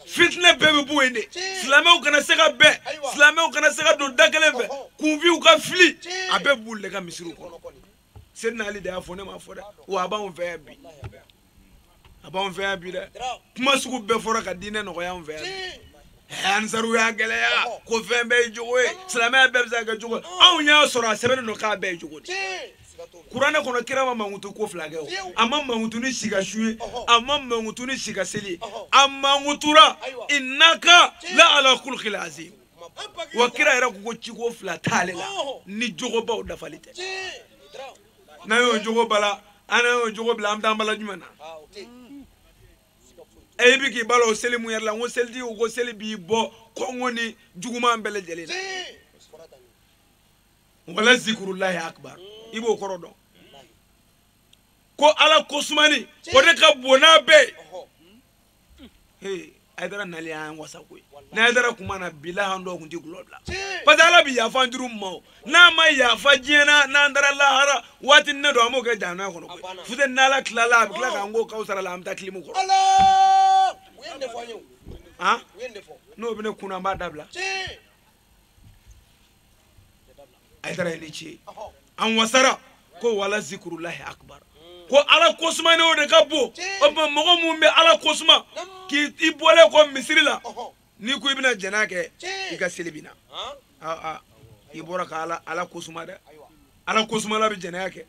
fitinɛ bɛɛ bɛ bɔ yen de silamɛw kana se ka bɛn silamɛw kana se ka don da kelen fɛ kunfinw ka fili a bɛɛ b'olu de ka misiriw kɔnɔ sedina ali de y'a fɔ ne m'a fɔ dɛ wa a b'anw fɛ yan bi a b'anw fɛ yan bi dɛ kuma sugu bɛɛ fɔra ka diinɛ nɔgɔya anw fɛ yan ansaru y'a gɛlɛya ko fɛn bɛɛ ye jogo ye silamɛya bɛɛ bɛ se ka kɛ jogo anw y'a sɔrɔ a sɛbɛnnen don k'a bɛɛ ye jogo de kuranɛ kɔnɔ kira ma mankutu ko fila kɛ o a ma mankutu ni si ka sun ye a ma mankutu ni si ka seli ye a mankutura innaka la ala khuluqin azim wa kira yɛrɛ ko ko ciko fila t'ale la ni jogobaw dafali tɛ n'an y'o jogo bala an n'an y'o jogo bila an bɛ taa an bala jumɛn na e bi k'i bala o seli min yɛrɛ la n ko selitigi ko ko seli b'i bɔ konɔgɔ ni juguman bɛɛ lajɛlen na wala zikurulahi akibar i b'o kɔrɔ dɔn ko ala kosumani o de ka bon n'a bɛɛ ye ayidara nali y'an wasa koyi ni ayidara kun ma na bilahi an dɔw kun ti gulɔ bila parce que ala bi yafa an jurumu ma o n'a ma yafa diɲɛ na n'an taara lahara waatinin dɔ an b'o kɛ jahanama kɔnɔ koyi fute n'ala tilala a bɛ tila k'an ko kawsara la an bɛ taa kilimu kɔrɔ n'o bɛ ne kun na an b'a dabila ayidara ni ce an wasara ko wala zikurulahi akubar ko ala kosumani o de ka bon o tuma mɔgɔ min bɛ ala kosuma k'i i bɔlen kɔ misiri la n'i ko i bɛna jɛnɛya kɛ i ka seli binna aa i bɔra ka ala kosuma dɛ ala kosumala bɛ jɛnɛya kɛ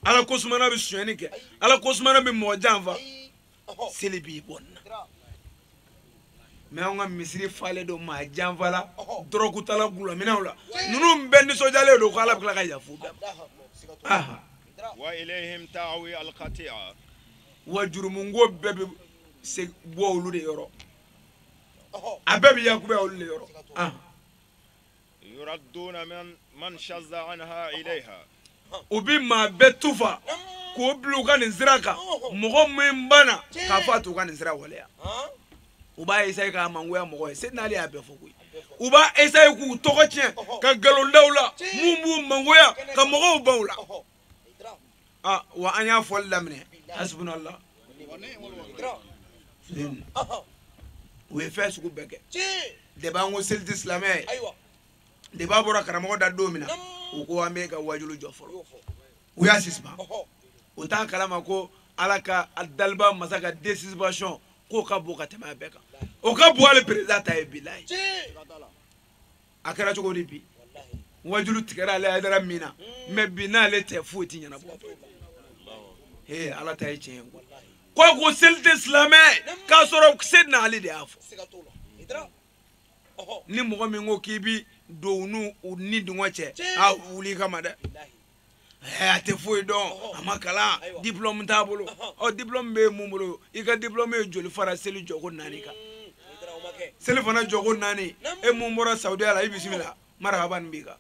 ala kosumala bɛ sonyɛni kɛ ala kosumala bɛ mɔgɔ janfa seli b'i bɔ nin na mɛ anw ka misiri falen don maa janfala dɔrɔkutala gulaminɛla ninnu bɛɛ nisɔndiyalen don ko ala bɛ tila ka yafu bɛɛ ma wa ilayhim ta'awi al-khati'a wa jurumunko bɛɛ bɛ se bɔ olu de yɔrɔ a bɛɛ bɛ yakubaya olu de yɔrɔ u bɛ maa bɛɛ tufa k'u bila u ka nin sira kan mɔgɔ min banna k'a fɔ a t'u ka nin sira waleya u b'a esaye k'a mangoya mɔgɔ ye seyidina ali y'a bɛɛ fɔ koyi u b'a esaye k'u tɔgɔ tiɲɛ ka nkalon da u la mun b'u mangoya ka mɔgɔw ban u la ah wa an y'a fɔli daminɛ hasbunallah u ye fɛn sugu bɛɛ kɛ depi an ko seli tɛ silamɛya ye depi a bɔra karamɔgɔ da don min na u ko an b'i ka wajulu jɔ fɔlɔ u y'a sisipan u t'a kalama ko ala ka daliba masa ka de sisipansɔn k'o ka bon ka tɛmɛ a bɛɛ kan o ka bon hali perezidan ta ye bilayi a kɛra cogo di bi wajulu tigɛra ale ayidara min na mɛ bi n'ale tɛ foyi ti ɲɛnabɔ ee ala ta ye tiɲɛ ye ko ko seli tɛ silamɛ k'a sɔrɔ seyidina ali de y'a fɔ ni mɔgɔ min ko k'i bi don u n'u ni dungɔ cɛ a wuli kama dɛ ɛɛ a tɛ foyi dɔn a ma kalan diplɔmu t'a bolo ɔ diplɔmu bɛ mun bolo i ka diplɔmu ye joli fara seli jɔko naani kan mm, selifana jɔko naani e mun bɔra saudiya la i bisimila marahaban bika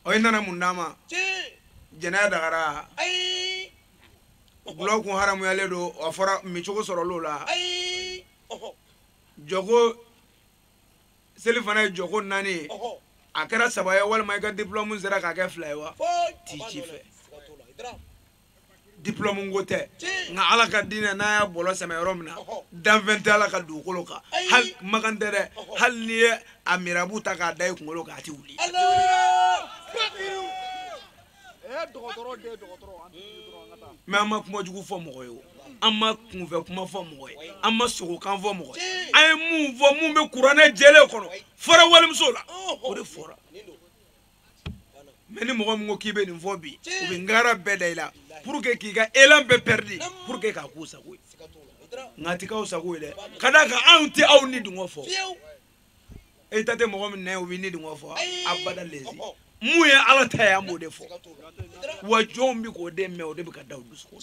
ɔ i nana mun d'an ma jɛnɛya dagara gulɔ kun haramuyalen don a fɔra min cogo sɔrɔl'o la jɔko selifana ye jɔko naani ye a kɛra saba ye walima i ka diplɔmu sera k'a kɛ fila ye wa ti ci fɛ diplɔmu ko tɛ nka ala ka diinɛ n'a y'a bɔlɔ sɛmɛ yɔrɔ min na danfɛn tɛ ala ka dugukolo kan hali makan tɛ dɛ hali n'i ye a mirabu ta k'a da i kunkolo kan a tɛ wuli mɛ an ma kuma jugu fɔ mɔgɔ ye o an ma kunfɛ kuma fɔ mɔgɔ ye an ma sogokan fɔ mɔgɔ ye an ye mun fɔ mun bɛ kuranɛ jɛlen kɔnɔ fɔra walimuso la o de fɔra mɛ ni mɔgɔ min ko k'i bɛ nin fɔ bi u bɛ ngara bɛɛ da i la pour que k'i ka elan bɛɛ pɛridi pour que k'a k'u sago ye nka a ti k'aw sago ye dɛ ka d'a kan anw tɛ aw ni dungɔ fɔ e ta tɛ mɔgɔ min nɛ o bɛ ne dungɔ fɔ abada lezi mun ye ala ta ye an b'o de fɔ wa jɔnw bɛ k'o de mɛn o de bɛ ka da o dusukun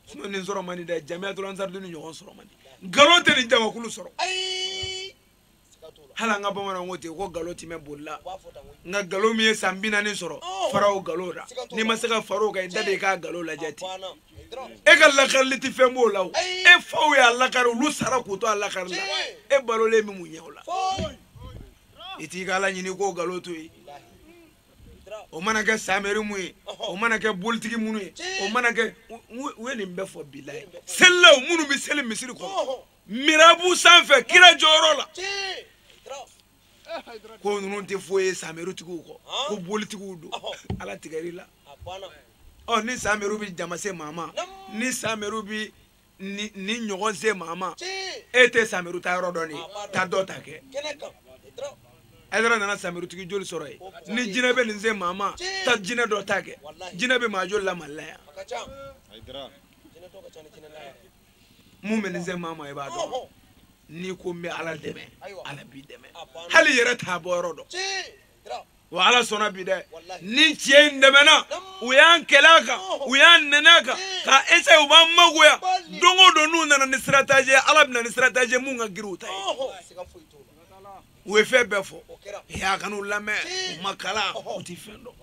sinɔn nin sɔrɔ man di dɛ jamiyatul ansaridini ɲɔgɔn sɔrɔ man di nkalon tɛ nin jamakulu sɔrɔ hali an ka bamananw ko ten ko nkalon ti mɛɛn boli la nka nkalon min ye san bi naani sɔrɔ fara o nkalon la n'i ma se ka fara o kan i da de i k'a nkalon lajɛ ten e ka lakarili tɛ fɛn b'o la o e faw y'a lakari olu sara k'u to a lakari la e balolen bɛ mun ɲɛ o la i t'i ka ala ɲini k'o nkalon to yen o mana kɛ samɛri mun ye o mana kɛ bolitigi minnu ye o mana kɛ u ye nin bɛɛ fɔ bilayi selilaw minnu bɛ seli misiri kɔnɔ mirabu sanfɛ kira jɔyɔrɔ la ko ninnu tɛ foyi ye samɛritigiw kɔ ko bolitigiw don ala tigɛr'i la ɔ ni samɛriw bɛ jama se maa ma ni samɛriw bɛ nin ɲɔgɔn se maa ma e tɛ samɛriw tayɔrɔ dɔn de taa dɔ ta kɛ ayidara nana samɛritigi joli sɔrɔ yen ni jinɛ bɛ nin se maa ma taa jinɛ dɔ ta kɛ jinɛ bɛ maa joli la mali la yan mun bɛ nin se maa ma i b'a dɔn n'i ko n bɛ ala dɛmɛ ala b'i dɛmɛ hali i yɛrɛ t'a bɔ yɔrɔ dɔn wa ala sɔnna bi dɛ ni tiɲɛ in dɛmɛna u y'an kɛlɛ a kan u y'an nɛni a kan ka ese u b'an mangoya don o don n'u nana ni sitarateji ye ala bɛ na ni sitarateji ye mun ka girin u ta ye u ye fɛn bɛɛ fɔ y'a kana u lamɛn u ma kalan u ti fɛn dɔn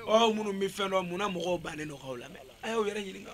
aw minnu bɛ fɛn dɔn mun na mɔgɔw bannen don k'aw lamɛn a y'aw yɛrɛ ɲininka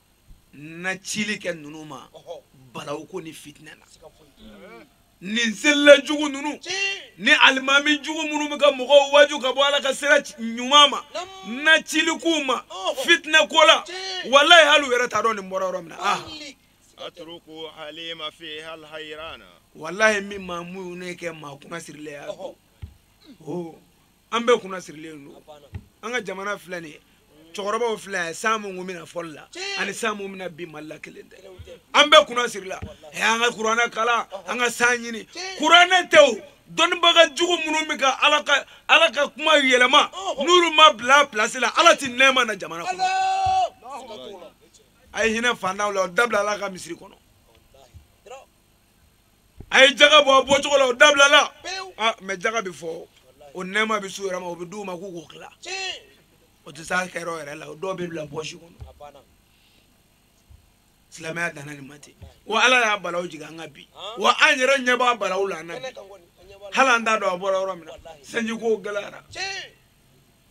na cili kɛ ninnu ma balawu ko ni fitinɛ na nin selila jugu ninnu ni alimami jugu minnu bɛ ka mɔgɔw waju ka bɔ ala ka sira ɲuman ma n na cili k'u ma fitinɛ ko la walayi hali u yɛrɛ t'a dɔn nin bɔra yɔrɔ min na ah atruku lhalima fihal hayrana walayi min maa muɲunen kɛ maa kunna sirilen ye o an bɛɛ kunna sirilen don an ka jamana filɛ nin ye cɛkɔrɔbaw filɛ yan san mun tun bɛ na fɔlɔ la ani san mun bɛ na bi mali la kelen tɛ an bɛɛ kunna sirila ɛ an ka kuranɛ kalan an ka san ɲini kuranɛ tɛ o dɔnnibaga jugu minnu bɛ ka ala ka ala ka kuma yɛlɛma n'olu ma bila pilasi la ala ti nɛɛma na jamana kɔnɔ a ye hinɛ fantanw la o dabila ala ka misiri kɔnɔ a ye jaga bɔ a bɔcogo la o dabilala ah, mɛ jaga bɛ fɔ o nɛɛma bɛ s'u yɛrɛ ma o bɛ d'u ma k'u k'o tila o tɛ s'a kɛyɔrɔ yɛrɛ la o dɔw bɛ bila pɔsi kɔnɔ silamɛya danna nin ma ten wa ala y'a balaw jigin an kan bi wa an yɛrɛ ɲɛ b'a balaw la an na bi hali an t'a dɔn a bɔra yɔrɔ min na sanjiko gɛlɛyara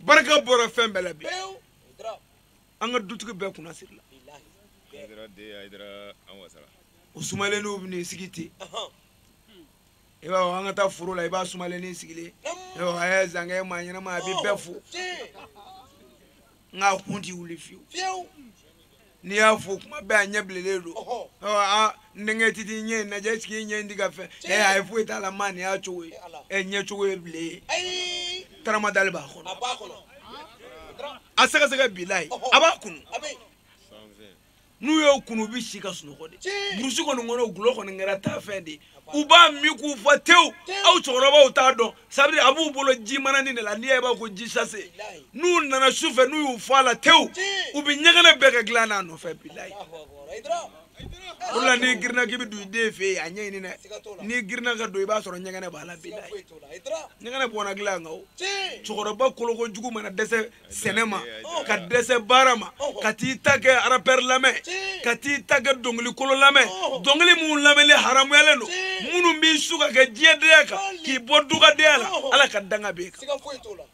barika bɔra fɛn bɛɛ la bi an ka dutigi bɛɛ kunna sirila o sumalennin bɛ n'i sigi ten i b'a fɔ an ka taa foro la i b'a sumalennin sigilen a ye zankɛ maa ɲɛnama a bɛ bɛɛ fo nka a kun ti wuli fiyewu n'i y'a fo kuma bɛɛ a ɲɛ bilenlen don n denkɛ titi ɲɛ in lajɛ est-ce que i ɲɛ in tɛ ka fɛn ɛ a ye foyi t'a la maa nin y'a cogo ye ɛ ɲɛ cogo ye bilayi taramadali b'a kɔnɔ a sɛgɛsɛgɛ bilayi a b'a kunu n'u y'o kunu u bɛ si ka sunɔgɔ de burusi kɔni kɔnɔ gulɔ kɔni kɛra taa fɛn de u b'a min k'u fa tewu aw cɛkɔrɔbaw t'a dɔn sabiri a b'u bolo ji manani de la n'i y'a ye i b'a ko ji sase n'u nana su fɛ n'u y'u fa a la tewu u bɛ ɲɛgɛnɛ bɛɛ kɛ dilan n'a nɔfɛ bilayi o la n'i girinna k'i bɛ don i den fɛ yen a ɲɛɲini dɛ n'i girinna ka don i b'a sɔrɔ ɲɛgɛnɛ b'a la bilayi ɲɛgɛnɛ bɔnna dilan kan o cɛkɔrɔba koloko jugu mana dɛsɛ sɛnɛ ma ka dɛsɛ baara ma ka t'i ta kɛ arapɛri lamɛn ka t'i ta kɛ dɔnkili kolon lamɛn dɔnkili minnu lamɛnni haramuyalen don minnu b'i su ka kɛ diɲɛdenya kan k'i bɔ dugadenya la ala ka danga b'e kan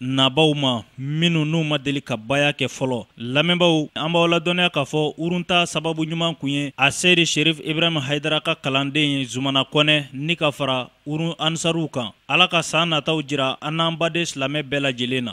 nabaw ma minnu n'u ma deli ka baya kɛ fɔlɔ lamɛnbaw an b'aw ladɔnniya k'a fɔ urun ta sababu ɲuman kun ye a seyidi sherif ibrahim haidara ka kalanden ye zumana kɔnɛ ni ka fara urun ansaruw kan ala ka san nataw jira an n'an baden silamɛ bɛɛ lajɛlen na